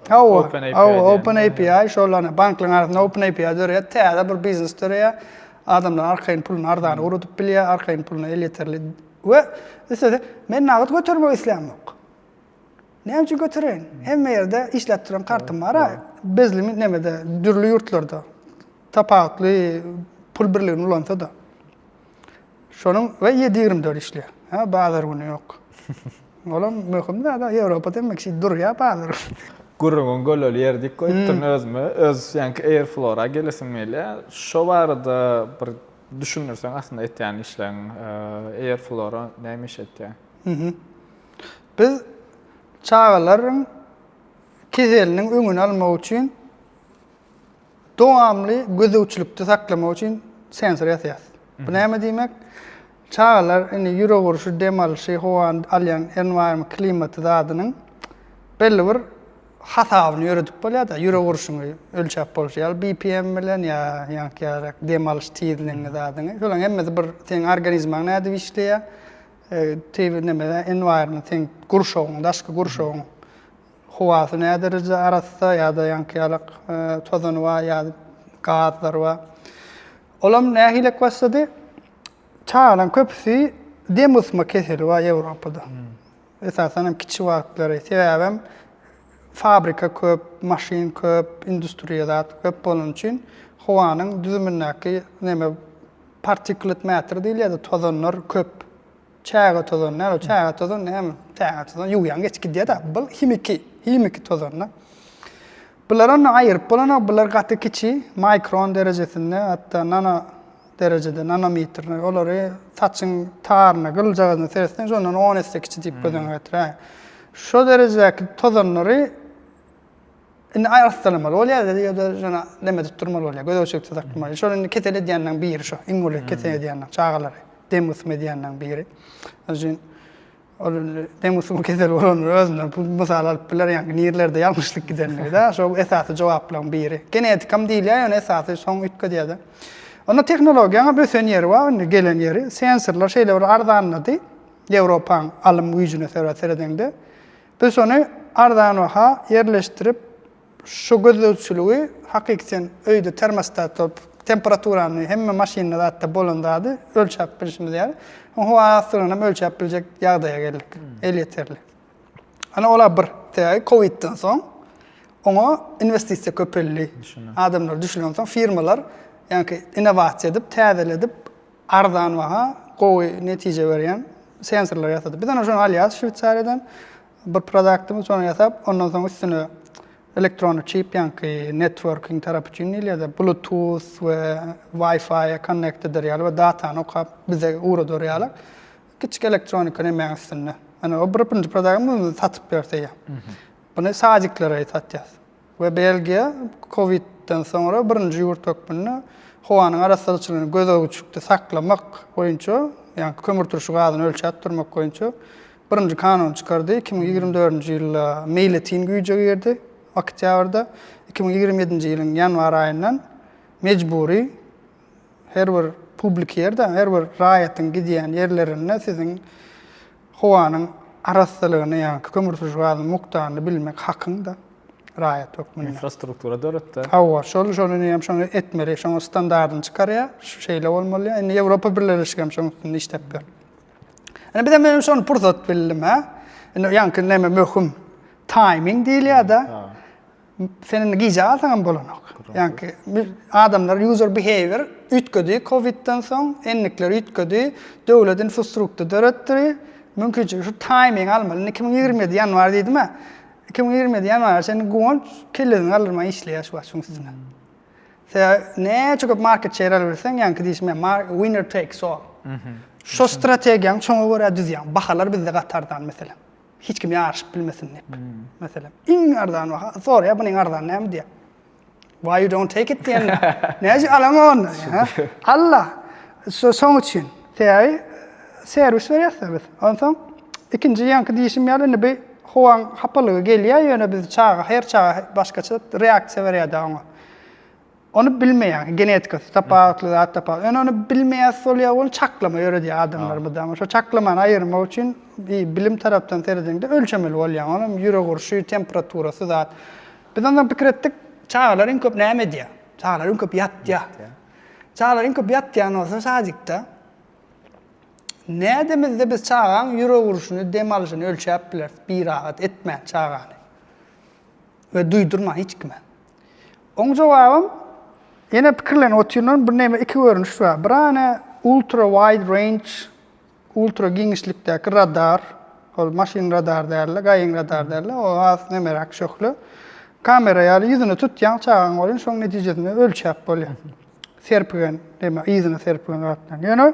Open API. Hawa, Open API, şol ony banklaryň arasynda Open API döreýär. Täze bir biznes döreýär. Adamlar arkaýyn puluny arzana ugradyp bilýär, arkaýyn puluny elýeterli we üstesine men nagt götermek islämok. Näme üçin götereýin? Hemme ýerde işläp duran kartym bar-a. Bezlimi nemede, dürli ýurtlarda tapawutly pul birligini ulansa-da. Şonuň we ýedi ýigrimi dört işleýär. Hä, bazar güni ýok. Olam möhüm zada, Ýewropa demek şeýdip durýar bazar güni. Gürrüňiň göleli ýeri diýip goýupdyryn özüme. Öz ýaňky Airflora gelesim gelýär. Şo barada bir düşündirseň aslynda etýän işleriň, Airflora näme iş etýär? Biz çagalaryň keseliniň öňüni almak üçin Dowamly gözegçilikde saklamak üçin sensor ýasaýas. Bu näme diýmek? Çagalar indi ýürek urşy, dem alşy, howany alýan enwaýrma klimaty zadynyň belli bir hasabyny ýöredip bolýar-da, ýürek urşuňy ölçäp bolşy ýaly BPM bilen ýa ýaňky ýarak dem alyş tizligiňi zadyňy. Şolaryň hemmesi bir seň organizmaň nädip işleýär, tebigy neme enwaýrma seň gurşawyň, daşky gurşawyň Howasy nädereje arassa ýa-da ýaňky-ýalak tozany bar ýa-da gazlary bar. Olam nähilek başlady? Çagalaň köpüsi dem gysma keseli bar Ýewropada. Esasan hem kiçi wagtlary. Sebäbem fabrika köp, maşyn köp, industriýa zat köp bolany üçin howanyň düzümindäki neme partiklet mäter diýilýärdi, tozanlar köp. Çaýga tozan däl ol çaýga tozan näme çaýga tozan ýuwýaň geçip gidýär da bul himiki himiki tozan da. Bular onda aýyryp bolanok bular gaty kiçi maýkron derejesinde hatda nano derejede nanometr olary saçyň taryna gyljagazyna seretseň şondan on esse kiçi diýip göz öňüňe getiräýiň. Şo derejedäki tozanlary Indi aýagyny ysgalamaly bolýar, ýa-da ýa-da şona deme tutdurmaly bolýar, gözegçilik saklamaly. Şol indi ketel edýänleriň biri şo, iň uly ketel edýänler, çagalary dem gysym edýänleriň biri. Şonuň üçin ol indi dem gysymy keseli bolanlar özünden pul mysal alyp biler, ýaňky nirlerde ýalňyşlyk gidenligi-de, şo esasy jogaplaryň biri. Genetikam diýilýär, ýöne esasy soň üýtgedýär-de. Onda tehnologiýanyň ösen ýeri bar indi, gelen ýeri. Sensorlar şeýle bir arzanlady, Ýewropaň alym güýjüne seret seredeňde. Biz ony arzan baha ýerleşdirip, şu gözlegçiligi, hakyky sen öýde termostat bolup, temperaturany, hemme maşynda zatda bolan zady ölçäp bilşimiz ýaly, soň howa aslygyny hem ölçäp biljek ýagdaýa geldik, elýeterli. Ana ol-a bir sebäbi kowidden soň oňa inwestisiýa köpeldi. Adamlar düşünen soň firmalar ýaňky innowasiýa edip, täzeledip, Arzan baha, gowy netije berýän sensorlar ýasadyp. Biz ony şony alýas Şweýsariýadan. Bir produktymy şony ýasap, ondan soň üstüne elektron çip ýaňky networking tarapy üçin diýilýär-de, bluetooth we wi-fi connect eder ýaly we datany okap bize ugradar ýaly kiçi elektronika nemäň üstünde. Ýöne o bir birinji produktymyz satyp ýörseýe. Muny sadiklere satýas. we Belgiýa COVID-den soňra birinji ýurt hökmünde howanyň arassaçylygyny gözegçilikde saklamak boýunça, ýagny kömürturşy gazyny ölçäp durmak boýunça birinji kanuny çykardy. Iki müň ýigrimi dördünji ýylda meýletin güýje girdi, oktýabrda. Iki müň ýigrimi ýedinji ýylyň ýanwar aýyndan mejbury. Her bir publik ýerde, her bir raýatyň gidýän ýerlerinde siziň howanyň arassalygyny, ýa kömürturşy gazyň mukdaryny bilmek hakyňda raýat hökmünde. Infrastruktura döretde. Hawa, şol şol indi hem şony etmeli, şoňa standardyny çykarýar, şeýle bolmaly. Indi Ýewropa Birleşigi hem şoň üstünde işläp ýör. Indi biz hem şony pursat bildim, hä? Indi ýaňky näme möhüm? Taýming diýilýär-de. Sen indi gije galsaňam bolanok. Ýaňky adamlar user behavior üýtgedi kowidden soň, endikler üýtgedi, döwlet infostrukty döretdi. Mümkinçilik şu taýming almaly. Indi 2027 ýanwar diýdim-ä. 2027 ýanwara çenli guwanç kellesini galdyrman işleýär şu wagt şuň üstüne. Sebä näçe köp market share alabilseň, ýaňky diýşim ýa mar winner takes all. Şu strategiýaň çoňa görä düzýäň. Bahalar bizde gaty arzan meselem. hiç kim ýaryşyp bilmesin diýip. Hmm. Meselem, iň arzan baha soraýar, bu neň arzan näme diýär. Why you don't take it diýen. Näçe alaňa onda? Allah. Şu soň üçin. Täri serwis berýärsiz biz. Onsoň ikinji ýanky diýişim ýaly indi bir howaň hapalygy gelýär, ýöne biz çaga, her çaga başgaça reaksiýa berýär-de oňa. Ony bilmeýär. Genetikasy tapawutly, zat tapawutly. Ýöne ony bilmeýär, solýar, ony çaklama ýöredýär adamlar mydama. Şo çaklamany aýyrmak üçin bilim tarapdan serediňde ölçemeli bolýar. Ony hem ýürek urşy, temperaturasy zat. Biz onsoň pikir etdik, çagalar iň köp näme edýär? Çagalar iň köp ýatýar. Çagalar iň köp ýatýan bolsa sadikde nädemizde biz çagaň ýürek urşuny, dem alyşyny ölçäp bileris birahat etmän çagany? We duýdurma hiç kime. Oň jogabym, ýene pikirlenip otyryn, bir näme iki görnüş bar. Birany ultra wide range, ultra giňişlikdäki radar, ol maşyn radar dälde, gaýyň radar dälde, o has nemeräk şöhle. Kamera ýaly ýüzüne tutýaň çagaň welin şoň netijesinde ölçäp bolýar. Serpigen, näme yzyna serpigen zatlaryň. Ýöne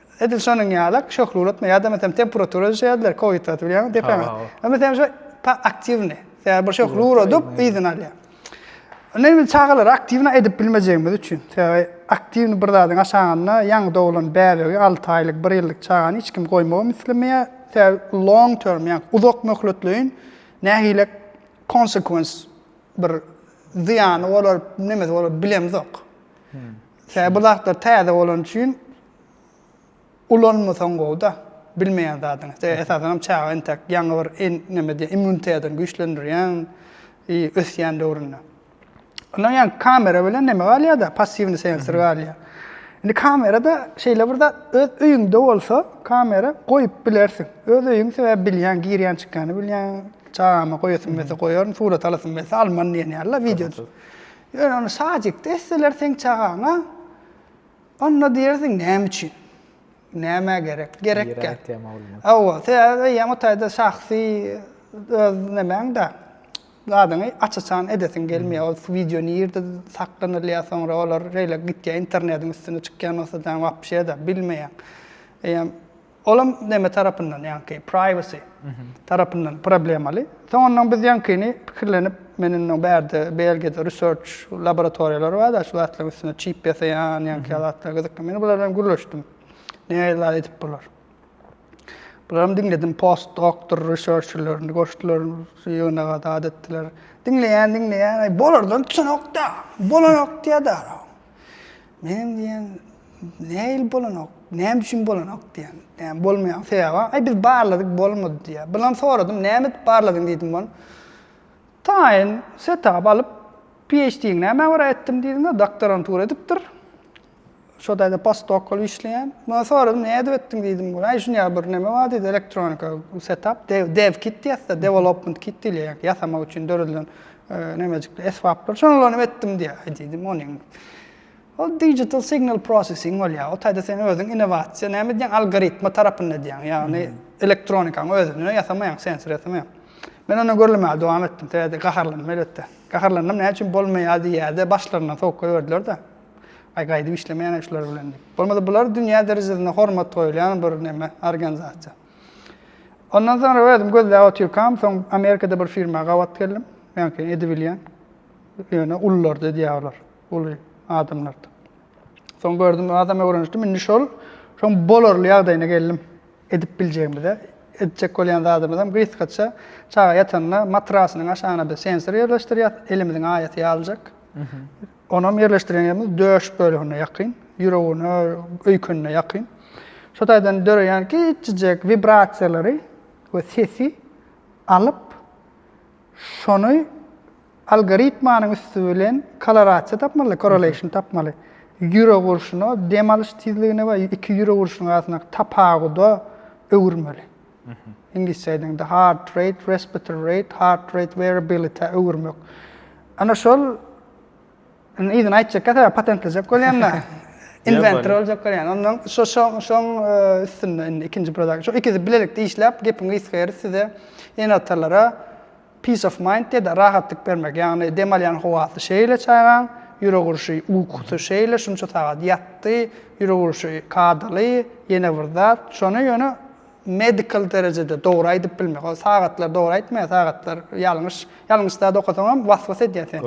Edil şonuň ýaly şöhle ulatma ýa-da meselem temperatura ölçeýärdiler, covid wagty bilýäňmi, depäňe. Ha, meselem şu ta aktiwny, sebäbi bir şöhle uradyp, yzyny alýar. Indi biz çagalary aktiwny edip bilmejegimiz üçin, sebäbi aktiwny bir zadyň aşagynda ýaňy doglan bäbegi, alty aýlyk, bir ýyllyk çagany hiç kim goýmagy hem islemeýär. Sebäbi long term, ýagny uzak möhletleýin nähili konsekwensi bir zyýany bolar, nemesi bolar bilemizok. Sebäbi bu zatlar täze bolany üçin ulanmasaň gowy-da, bilmeýän zadyňy. Sebäbi esasan hem çaga entek ýaňy bir neme diýýär, immunitetini güýçlendirýän ösýän döwründe. Ondan ýaňky kamera bilen neme galýar-da, passiwnyý sensor galýar. Indi kamerada şeýle bir zat, öz öýüňde bolsa kamera goýup bilersiň. Öz öýüň, sebäbi bilýäň, girýän çykýany bilýäň, çagama goýasym gelse goýaryn, surat alasym gelse alman diýen ýaly-la, wideo. Ýöne ony sadikde etseler seň çagaňa, onda diýersiň näme üçin? Nämä gerek? Gerekkä. Hawa, sebäbi öýem o taýda şahsy öz nemäň-de zadyňy aç-açan edesiň gelmeýär. Ol wideo nirde saklanylýar, soňra olar şeýle gitýär internetiň üstüne çykýan bolsa, sen wapşe-de bilmeýäň. Eýýäm Olam neme tarapyndan ýaňky privacy tarapyndan problemaly. Soňundan biz ýaňkyny pikirlenip men indi bärde Belgiýada research laboratoriýalary bar da şu zatlaryň üstüne çip ýasaýan ýaňky zatlar gyzykly. Men bular bilen gürleşdim. Nähili zat edip bolar. Bularam diňledim post doktor researcherlerini goşdular ýygnaga zat etdiler. Diňleýän diňleýän aý bolardan tutanokda. Bolanok diýýädä. Menem diýen, nähili bolanok, näme üçin bolanok diýen. Näme bolmaýan sebäbi, aý biz barladyk bolmady diýýär. Bilen soradym, näme edip barladyň diýdim ol. Taýyn setap alyp, PHD-ňi nämä görä etdim diýdiňä, doktorantura edipdir. Şo taýda postdok bolup işleýän. Bilen soradym, näme edip etdiň diýdim ol. Aý şunýa bir näme bar diýdi, elektronika setap, dev kit diýýäs-de, development kit diýilýär, ýasamak üçin döredilen. Nämejikli esbaplar. Şonulanyp etdim diýýär. Aý diýdim, onyň ol digital signal processing bolýar. O taýda sen özüň innowasiýa näme edýäň, algoritma tarapynda edýäň. Ýagny elektronikany özüne ýasamaýaň, sensor ýasamaýaň. Men onda gürlemäge dowam etdim. Sebäbi gaharlandym elbetde. Gaharlandym, näme üçin bolmaýar diýýärde, başlaryndan sowuk goýberdiler-de. Aý gaýdyp işlemeýän-ä şular bilen diýip. Bolmasa bular dünýä derejesinde hormat goýulýan bir näme, organizasiýa. Ondan soňra özüm gözläp otyrkam, soň Amerikada bir firma gabat geldim. Men ki edibilýän. Ýöne ulular edýär olar. Uly adamlar. Soň gördüm, adam öwrenişdim. Indi şol şoň bolarly ýagdaýyna geldim. Edip biljegimize, etjek bolýan zadymyz hem gysgaça çaga ýatanda matrasynyň aşagyna bir sensor ýerleşdirýär, elimiziň aýasy ýalyjak. Onam ýerleşdiren ýerimiz döş bölegine ýakyn, ýüregine, öýkenine ýakyn. Şo taýdan döreýän kiçijek wibrasiýalary we sesi alyp, şony algoritmanyň üsti bilen kolorasiýa tapmaly, correlation tapmaly. Ýürek urşuna, dem alyş tizligine we iki ýürek urşunyň arasyndaky tapawuda öwürmeli. Iňlisçe aýdanda heart rate, respiratory rate, heart rate variability-ä öwürmek. Ana şol indi yzyny aýtjak ýa-da patentlejek bolýan-da. Inventor boljak bolýan. Ondan şo şo şoň üstünde indi ikinji product. Şo ikisi bilelikde işläp, gepiň gysgasy ýeri size ýene atalara Peace of mind diýerdi, rahatlyk bermek. Ýagny dem alýan howasy şeýle çagaň, ýürek urşy, ukusy şeýle, şunça sagat ýatdy, ýürek urşy kadaly, ýene bir zat. Şony ýöne medical derejede dogry aýdyp bilmek. Ol sagatlar dogry aýtmaýar, sagatlar ýalňyş. Ýalňyş zat okasaňam was-was edýär seni.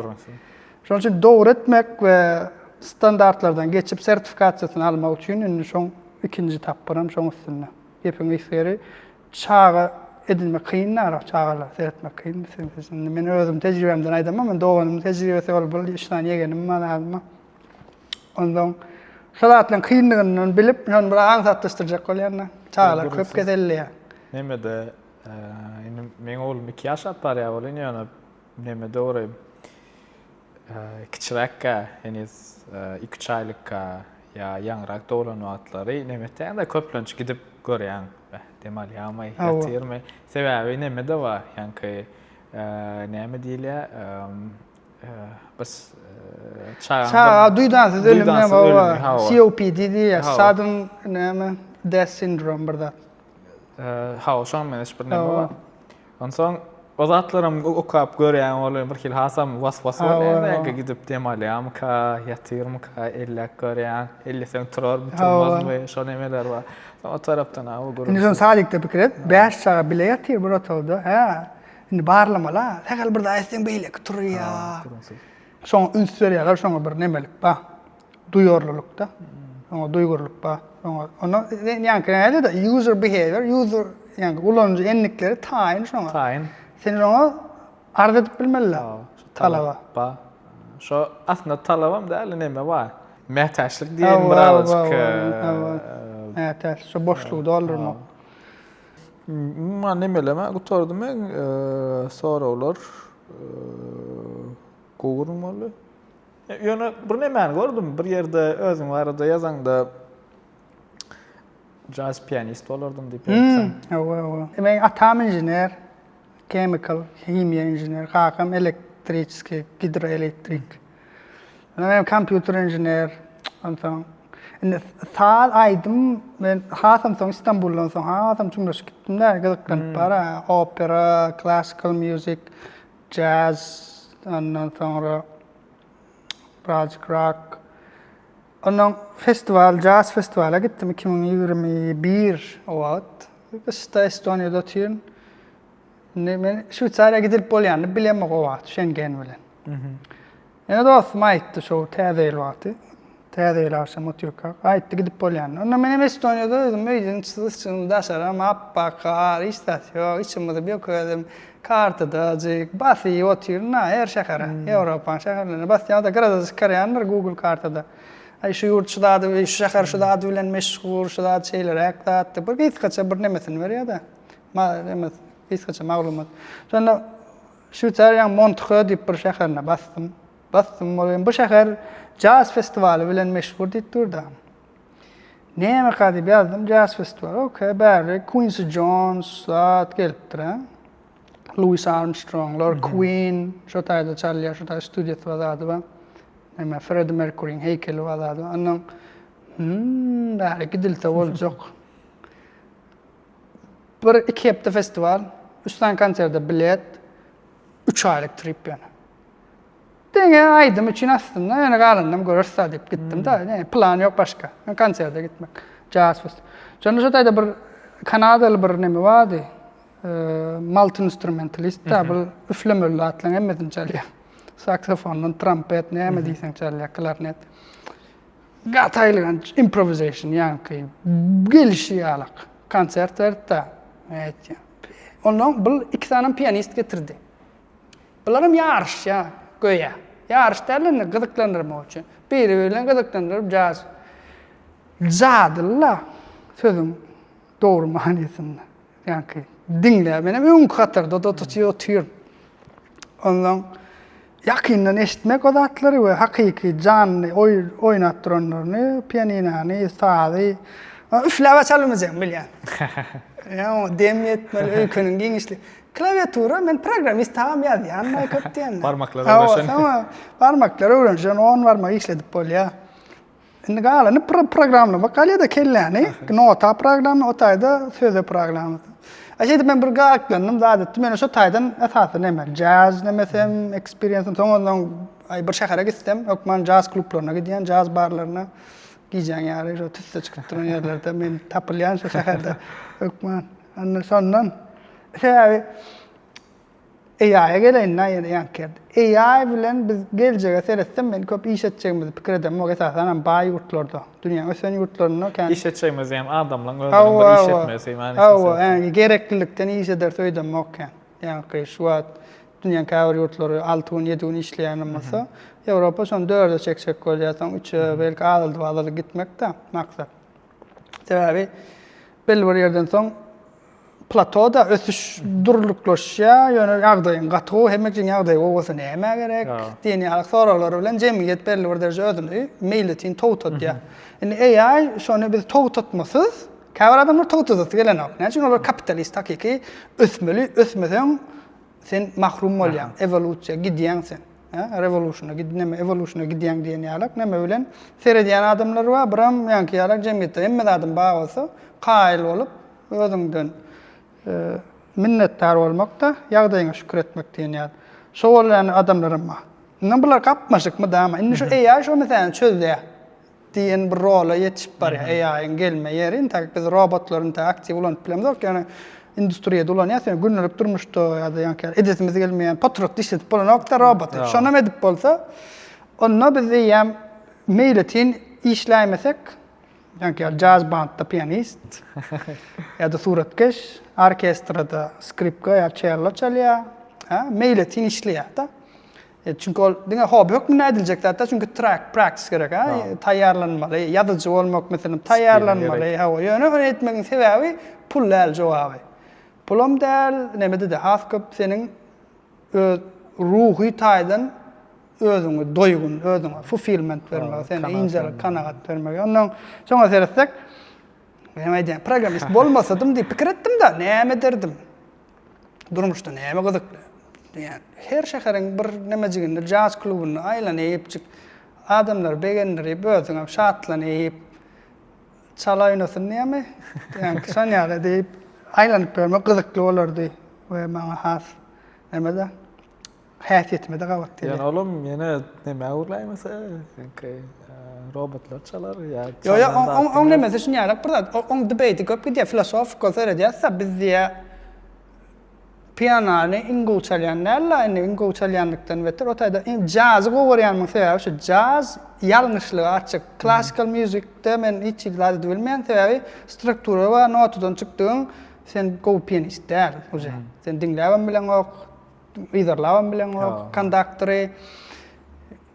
Şonuň üçin dogry etmek we standartlardan geçip sertifikasiýasyny almak üçin indi şoň ikinji tapgyram şoň üstünde. Gepiň gysgary, Çaga edinmek kyn narak çagalar seretmek kyn biz sen biz indi men özüm tejribemden aýdamok men doganymyň tejribesi ol bir üç sany ýegenim bar adyma ondan şol zatlaryň kynlygyndan bilip men bir aňsatlaşdyrjak bolýan da çagalar köp keselleýär nemede indi meň oglum iki ýaşap barýar bolýan ýöne nemede orayim Kiçiräkkä, heniz iki-üç aýlykka ýa ýaňyrak doglan wagtlary neme etýäňiz-da, köplenç gidip görýäň, beh, dem alýarmy, ýatyrmy? Sebäbi neme-de bar, ýaňky näme diýilýär, biz çaga. Çaga duýdansyz ölüm näme bar, COPD diýýär, sudden näme, death syndrome bir zat. Hawa, şonuň meň hiç bir näme bar. Onsoň o zatlaram okap görýän ol birhili hasam was-was bolýar belki gidip dem alýarmyka, ýatyrmyka elläp görýän. Elleseň turarmy, turmazmy şo nemeler bar. O tarapdan aw gürrüň. Indi sen sadikde pikir et, bäş çaga bile ýatyr bir otagda, hä? Indi barlamala, sähel bir zat etseň beýleki turýar. Şoňa üns berýärler, şoňa bir nemelik bar. duýarlylykda oňa duýgurlyk bar oňa onda ýaňky näde de user behavior user ýaňky ulanyjy endikleri taýyn şoňa taýyn sen oňa arz edip bilmeli talaba ba şo aslynda talabam däl neme bar mätäçlik diýen bir azajyk mätäç şo boşlugy doldurmak umuman hmm, nemeleme gutardym men soraglar gowurmaly Ýöne bir nemäni gördüm, bir ýerde özüň barada ýazaňda jazz pianist bolardym diýip ýazýaň. Hawa, hawa. Men atam inžener, chemical, himiýa inžener, kakam elektriçeskiý, gidroelektrik. Ýöne men kompýuter inžener, onsoň indi saz, aýdym men hasam soň Stambuldan soň hasam çuňlaşyp gitdim-de, gyzyklanyp bara, opera, klassikal mýuzik, Jazz, ondan soňra birazjyk rock. Ondan festiwal, jazz festiwala gitdim iki müň ýigrimi bir o wagt. Gyşda Estoniýada otyryn. Indi men Şweýsariýa gidilip bolýanyny bilemok o wagt Şengen bilen. Ýene dostum aýtdy şou täze ýyl wagty, täze ýyl agşamy otyrkak, aýtdy gidip bolýanyny. Onda menem Estoniýada özüm öýden çyzysym daşaram apbak gar, hiç zat ýok, içimizi bökedim, kartadajyk basyp otyryn ha her şähere, Ýewropanyň şäherlerine basýan ýa-da grada çykarýan bir Google kartada. Aý şu ýurt şu zady, şu şäher şu zady bilen meşhur, şu zat şeýleräk zat diýip, bir gysgaça bir nemesini berýär-de, ma, neme, gysgaça maglumat. Şonda Şweýsariýaň Montrö diýip bir şäherine basdym. Basdym, ol hem bu şäher jaz festiwaly bilen meşhur diýip durdy. Nemeka diýip ýazdym, jaz festiwaly, ok, bäri Kuinsi Jons zat gelipdir, a. Luis Armstronglar, Kuin, şo taýda çalýar, şo taýda studiýasy bar zady bar. Näme, Fredi Merkuriň heýkeli bar zady bar. Onnoň, Hum, bäri gidilse boljak. Bir iki hepde festiwal, üç sany konserde bilet, üç aýlyk trip ýöne. Diňe aýdym üçin aslynda ýöne galanynam göreris-ä diýip gitdim-de, hmm. ne plan ýok başga. Men konserde gitmek. Jazz fest. Şonda şu taýda bir kanadaly bir neme bardy. Multi instrumentalist da bu üflemeli zatlaryň hemmesini çalýar. Saksofondan trompet näme diýseň çalýar, klarnet. Gaty aýylganç improvisation ýaňky gelişi ýalak konsert beripda men aýtýan. Onda bul iki sanam pianist getirdi. Bularam ýaryşýa göýä. Ýaryş däl indi gyzyklandyrmak üçin. Biri biri bilen gyzyklandyryp jaz. Jadyly-la sözüň dogry manysynda. Ýaňky diňläp, menem öňki hatarda tutup otyryn. Onsoň ýakyndan eşitmek o zatlary we hakyky janly oýnap duranlaryny, pianinany, sazy üfläp-ä çalynmajak bilýän. Ýa oňa dem ýetmeli, öýkeniň giňişligi. Klawiatura men programmist agam ýazýan Maýkap diýende. Barmaklar öwrenişen. Barmaklar öwrenişen, on barmak işledip bolýar. Indi galany programlamak galýada kelläni, nota programla, o taýda söze programla. A şeýdip men bir gaklandym, zat etdim. Ýöne şu taýdan esasy näme? Jazz nemesem, experience soň ondan ay bir şähere gitsem, hökman jazz klublaryna gidýän, jazz barlaryna gijäň ýary şu tüsse çykyp duran ýerlerde men tapylýan şu şäherde hökman. Anna şondan. Sebäbi AI-a geleýin da ýene ýaňky ýerde. AI bilen biz geljege seretsem men köp iş etjegimizi pikir edemok esasan hem baý ýurtlarda. Dünýäň ösen ýurtlarynda kän. Iş etjegimiz diýýän adamlaň özüniň bir iş etmesi manysynda. Hawa, ýaňky gereklilikden iş ederis öýdemok kän. Ýaňky şu wagt dünýäň käbir ýurtlary alty gün, ýedi gün işleýän hem bolsa, Ýewropa şony dörde çekjek bolýar, soň üçe, belki azaldyp-azaldyp gitmek-de maksat. Sebäbi belli bir ýerden soň Platoda ösüş durnuklaşýar, ýöne ýagdaýyň gaty gowy, hemme üçin ýagdaýy gowy bolsa nämä gerek diýen ýaly soraglar bilen jemgyýet belli bir dereje özüni meýletin togtatýar. Indi AI şony biz togtatmasyz, käbir adamlar togtadasy gelenok. Näme üçin olar kapitalist hakyky ösmeli, ösmeseň Sen mahrum bolýaň, ewolýusiýa gidýäň sen. Hä, rewolýusiýona gid, näme ewolýusiýona gidýäň diýen ýalak näme bilen? Seredýän adamlar bar, biram meňki ýalak jemgyýetde hemme zadyň bar bolsa, kaýyl bolup, özüňden minnetdar bolmak-da, ýagdaýyňa şükür etmek diýen ýaly. Şo bolýan adamlaram bar. Indi bular gapmaşykmy, dama? Indi şu AI şo meseläni çözýär. diýen bir rola ýetişip barýar AI-yň gelme ýeri. Intäk biz robotlary intäk aktiw ulanyp bilemzok, ýöne industriýada ulanýas, ýöne gündelik durmuşda ýa-da ýaňky edesimiz gelmeýän potratda işledip bolanok-da roboty. Şonam edip bolsa, onda biz eýýäm meýletin işläýmesek, ýaňky ýaly jazz bandda pianist ýa-da suratkeş, orkestrada skripka ýa çello çalýar, hä, meýletin işleýär-de. Çünki ol diňe hobi hökmünde ediljek zat-da, çünki track, practice gerek, taýýarlanmaly, ýazyjy bolmak meselem, taýýarlanmaly, hawa, ýöne ony etmegiň sebäbi pul däl jogaby. Pulam däl, nämede-de has köp seniň öz ruhy taýdan özüňi doýgun, özüňe fulfillment bermegi, seni ýyndyrgy kanagat bermegi. Ondan soňa seretsek, men aýdýan programmist bolmasadym diýip pikir etdim-de, näme ederdim? Durmuşda näme gyzykly? diýýän. Her şäheriň bir nämejiginde jaz klubunda aýlanypjyk, adamlary begendirip, özüňem şatlanyp, çala oýnasyn diýýämi? diýýän. Şon ýaly diýip, aýlanyp ýörmek gyzykly bolardy we maňa has neme-de. häsiýetimize gabat gelýär. Ýöne olam ýene nämä urlaýmasa, ilki robotlar çalar ýa Ýok, ýok, oň nemesi şuny ýarak bir zat. Oň debate köp gidýär, filosofika seredýäs-de, biz diýä pianany iň gowy çalýan däl-de, indi iň gowy çalýanlykdan beter, o taýda iň jazy gowy görýänmiň sebäbi şu, jaz ýalňyşlyga açyk. Klassikal mýuzikde men hiç hili zady bilmeýän, sebäbi struktura we notadan çykdygyň sen gowy pianist däl uje. Sen diňläbem bileňok, Yzarlabam bileňok kondaktory.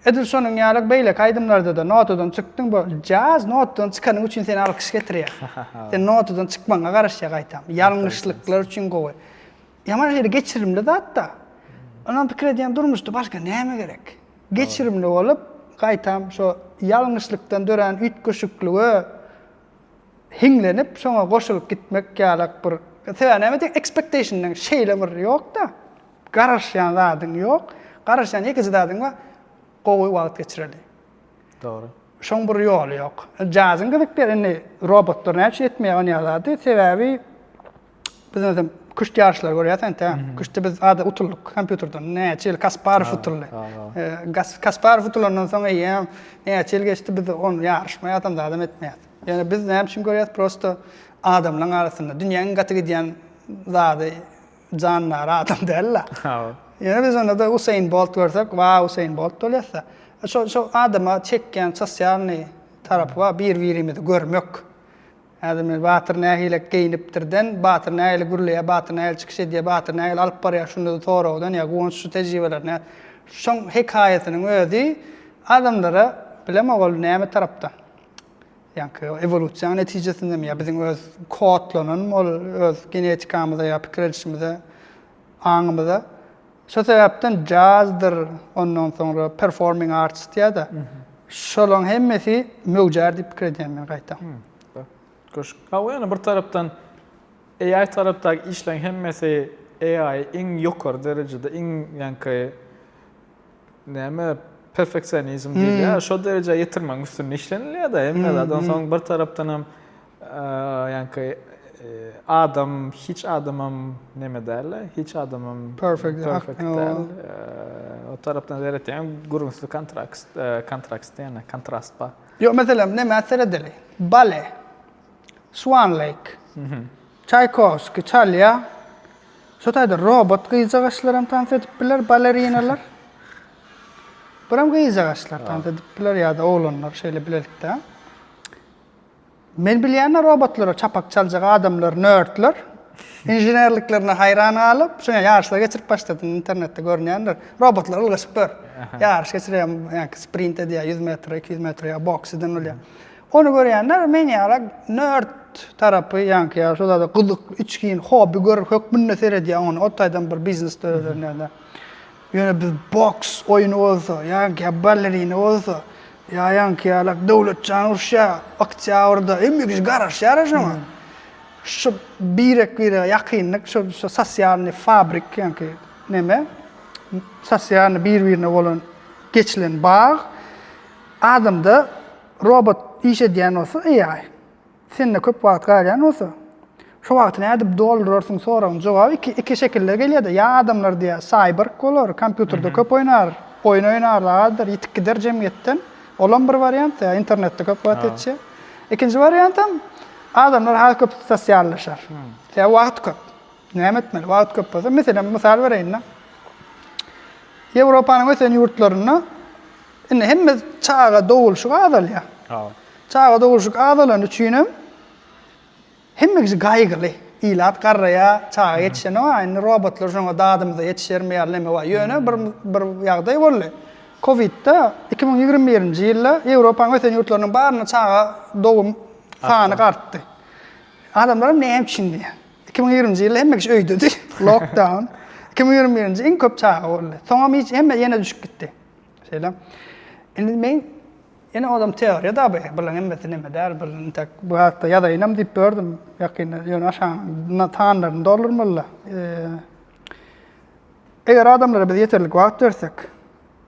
Edil şonuň ýaly beýleki aýdymlarda-da notadan çykdyň, bu jaz notadan çykanyň üçin seni alkyş getirýär. Sen notadan çykmagyňa garaşýar gaýtam. Ýalňyşlyklar üçin gowy. Ýaman şeýle geçirimli zat-da. Onam pikir edýän durmuşda başga näme gerek? Geçirimli bolup, gaýtam şo ýalňyşlykdan dörän üýtgeşiklige hiňlenip şoňa goşulyp gitmek ýalak bir sebäbi näme diýen ekspektationyň şeýle bir ýokda garaşýan zadyň ýok garaşýan ýekeje zadyň bar gowy wagt geçireli dogry şoň bir ýoly ýok jazyň gyzykdyr indi robotlar näçe etmeýär ony ýa zady sebäbi Biz özüm küşt ýaryşlary görýäs ente. Küştde biz ada utuldyk kompýuterden. Näçe ýyl Kasparow utuldy. Kasparow utulandan soň eýýäm näçe ýyl geçdi biz ony ýaryşmaýas hem zadam etmeýäs. Ýöne biz näme üçin görýäs prosto adamlaryň arasynda dünýäň iň gaty gidýän zady jandary adam däl-de. Ýöne biz onda da Usain Bolt görsek wa Usain Bolt bolýasda. Şo şo adama çekýän sosialnyý tarapy bar bir-birimizi görmek. Häzir men Batyr nähile geýinipdirden, Batyr nähili gürleýär, Batyr nähili çykyş edýär, Batyr nähili alyp barýar şunda-da soragdan ýa Guwanç şu tejribeleri nä Şoň hekaýasynyň özi adamlara bilemok ol näme tarapdan ýaňky ewolýusiýanyň netijesindemi ýa biziň öz kodlananmy ol öz genetikamyza ýa pikir edişimize, aňymyza Şo sebäpden jazdyr, ondan soňra performing arts diýýär-de, şolaryň hemmesi möwjär diýip pikir edýän men gaýtam. Köşk. Ha bu ýene bir tarapdan AI tarapdaky işleriň hemmesi AI iň ýokary derejede, iň ýaňky näme perfeksionizm diýilýär, şo derejä ýetirmegiň üstünde işlenilýär-de, hemme zat. Onsoň bir tarapdanam. Ýaňky adam hiç adamam neme dälde, hiç adamam perfect däl. O tarapdan seretýän gürrüňsli kontrakt, kontrakt diýen, kontrast bar. Ýok, meselem, nämä seredeli? Bale, Swan Lake, Çaýkowskiý çalýar. Şo taýda robot gyzjagaşlaram tans edip biler, balerinalar. Buram gyzjagaşlar tans edip biler ýa-da oglanlar şeýle bilelikde. Men bilýänä robotlara çapak çaljak adamlar nerdler inženerliklerine haýran galyp şuňa ýaryşlar geçirip başladym internetde görünýändir robotlar ylgaşyp dur ýaryş geçirýär ýaňky sprint edýär ýüz metr iki ýüz metr ýa boks eden bolýar ony görýänler men ýala nerd tarapy ýaňky ýa şol zada gyzyk içgin hobby gör hökmünde seredýär ony o taýdan bir biznes döreder nädä Ýöne biz boks oýny bolsa, ýaňky ballerina bolsa, ýa ýaňky ýalak Döwletjan uruşýa oktýabrda, hemme kişi garaşýara şoňa. Şu birek-birege ýakynlyk, şu sosialnyý fabrik ýaňky neme, sosialnyý bir-birine bolan geçilen bag, adamda robot iş edýän bolsa, AI. Sende köp wagt galýan bolsa, şo wagty nädip doldurarsyň soragyň jogaby iki iki şekilde gelýärde, ýa adamlar diýýär saýberg bolar, kompýuterde köp oýnar, oýun oýnarlar azdyr, ýitip gider jemgyýetden, olam bir wariant, ýa internetde köp wagt geçýär. Ikinji wariantam, adamlar has köp sosiallaşar. Sebäbi wagt köp. Näme etmeli? Wagt köp bolsa, meselem, mysal bereýin-de. Ýewropanyň ösen ýurtlarynda Indi hemme çaga dogulşyk azalýar. Hawa. Çaga dogulşyk azalany üçin hem hemme kişi gaýgyly. Ilat garraýar, çaga ýetişenok, a indi robotlar şoňa dadymyza ýetişermi ýaly näme bar. Ýöne bir bir ýagdaý boldy. Kowidde iki müň ýigrimi birinji ýylda Ýewropanyň ösen ýurtlarynyň barynda çaga dogum sany artdy. Adamlar hem näme üçin diýýär. Iki müň ýigrimi birinji ýylda hemme kişi öýdedi. Lockdown. Iki müň ýigrimi birinji iň köp çaga boldy. Soňam hiç hemme ýene düşüp gitdi. Şeýle. Indi men ýene ozam teoriýa da bu. Bulan hemmesi neme däl, bu entek bu hakda ýazaýynam diýip gördüm. Ýakynda ýöne aşagyna sanlaryny doldurmaly-da. Eger adamlara biz ýeterlik wagt bersek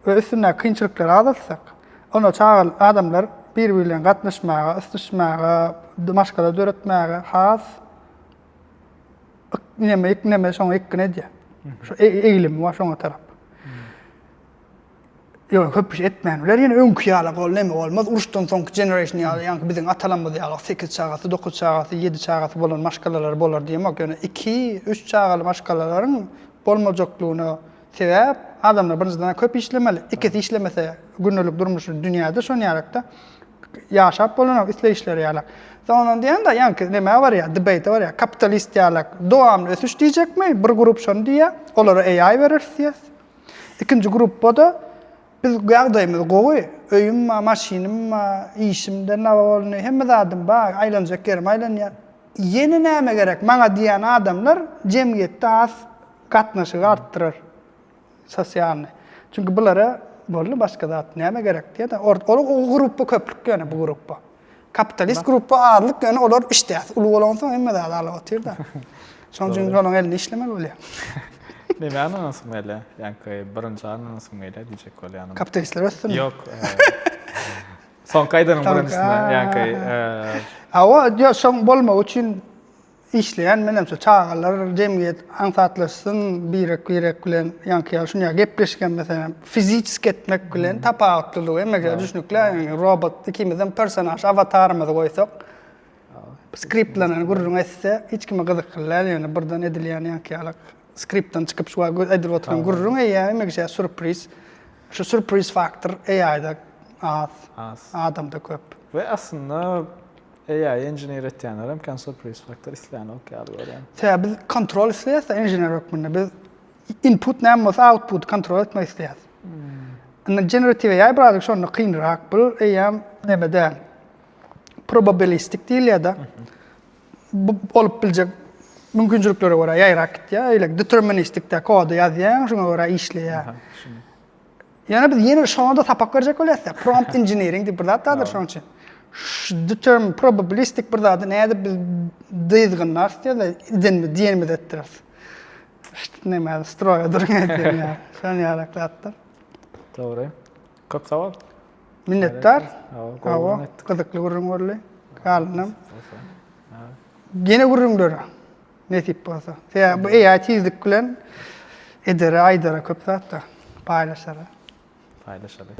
we üstündäki kynçylyklary azaltsak, onda çaga adamlar biri-biri bilen gatnaşmaga, ysnyşmaga, maşgala döretmäge has Ikneme, ikneme, şoňa ikgine edýär. Şu e, eýlimi bar şoňa tarap. Ýok, köp iş etmän biler. Ýene öňki ýala gol näme bolmaz. Uruşdan soňky generation ýaly, ýaňky biziň atalarymyz ýaly 8 çagasy, 9 çagasy, 7 çagasy bolan maşgalalar bolar diýemok. Ýöne 2, 3 çagaly maşgalalaryň bolmajaklygyna Sebäp adamlar birinjiden köp işlemeli, ikisi işlemese gündelik durmuşy dünýäde şon ýarakda ýaşap bolanok isleýişleri ýalak. Sondan diýende ýaňky nämä barýar, debate barýar, kapitalist ýalak dowamly ösüş diýjekmi, bir grup şony diýýär, olara AI bereris diýýär. Ikinji gruppada biz ýagdaýymyz gowy, öýüm bar, maşynym bar, işimde naba bolny, hemme zadym bar, aýlanjak ýerim aýlanýar. Ýene näme gerek maňa diýýän adamlar jemgyýetde has Gatnaşygy artdyrar sosialny. Çünki bulara boldy başga zat näme gerek diýeda or ol o grupba köplük ýöne bu grupba. Kapitalist grupba azlyk ýöne olar işdäsi uly bolansoň hemme zat alyp otyrda. Şonuň üçin olaň elinde işlemeli bolýar. Näme ananasym gelýär? Ýaňky birinji ananasym gelýär diýjek bolýanam. Kapitalistler össünmi? Ýok. Soňky aýdanyň birinjisine ýaňky. Hawa, ýok şoň bolmagy üçin Işleýän menem şu çagalar jemgyýet aňsatlaşsyn birek birek bilen ýaňky ýaly şunýa gepleşgen meselem fiziçiski etmek bilen tapawutlylygy emegä düşnükli ýaňy robot ikimizem personaž awatarymyzy goýsak skriptlanan gürrüň etse hiç kime gyzykly däl ýöne birden edilýän ýaňky ýaly skriptdan çykyp şu wagt edilip oturan gürrüň eýýä emegçe surpriz şu surpriz faktor AI-da az adamda köp. We aslynda AI engineer etýänlerem kän surpriz faktor islänok ýaly görýän. Sebäbi biz kontrol isleýäs-de engineer hökmünde. Biz input näme bolsa outputy kontrol etmek isleýäs. Indi generative AI birazajyk şonda kynrak. Bu eýýäm neme däl. Probabilistik diýilýär-de. Bu bolup biljek mümkinçiliklere görä ýaýrap gitýär. Öýle deterministik-de kody ýazýaň, şoňa görä işleýär. Ýöne biz ýene şonda sapak berjek bolýas ya. Prompt engineering diýip bir zat bardyr şoň üçin. Determ probabilistik bir zady nädip biz dyzgynlar diýýärler, idenmi, diýenimiz etdiris. Şt näme stroýa durun etdirin ya. Şon ýarak zatlar. Dogry. Köp sag ol. Minnetdar. Hawa, gyzykly gürrüň boldy. Galynam. Gene gürrüňlere. Nesip bolsa. Ýa bu AI tizlik bilen edere, aýdara köp zatda paýlaşara. Paýlaşaly.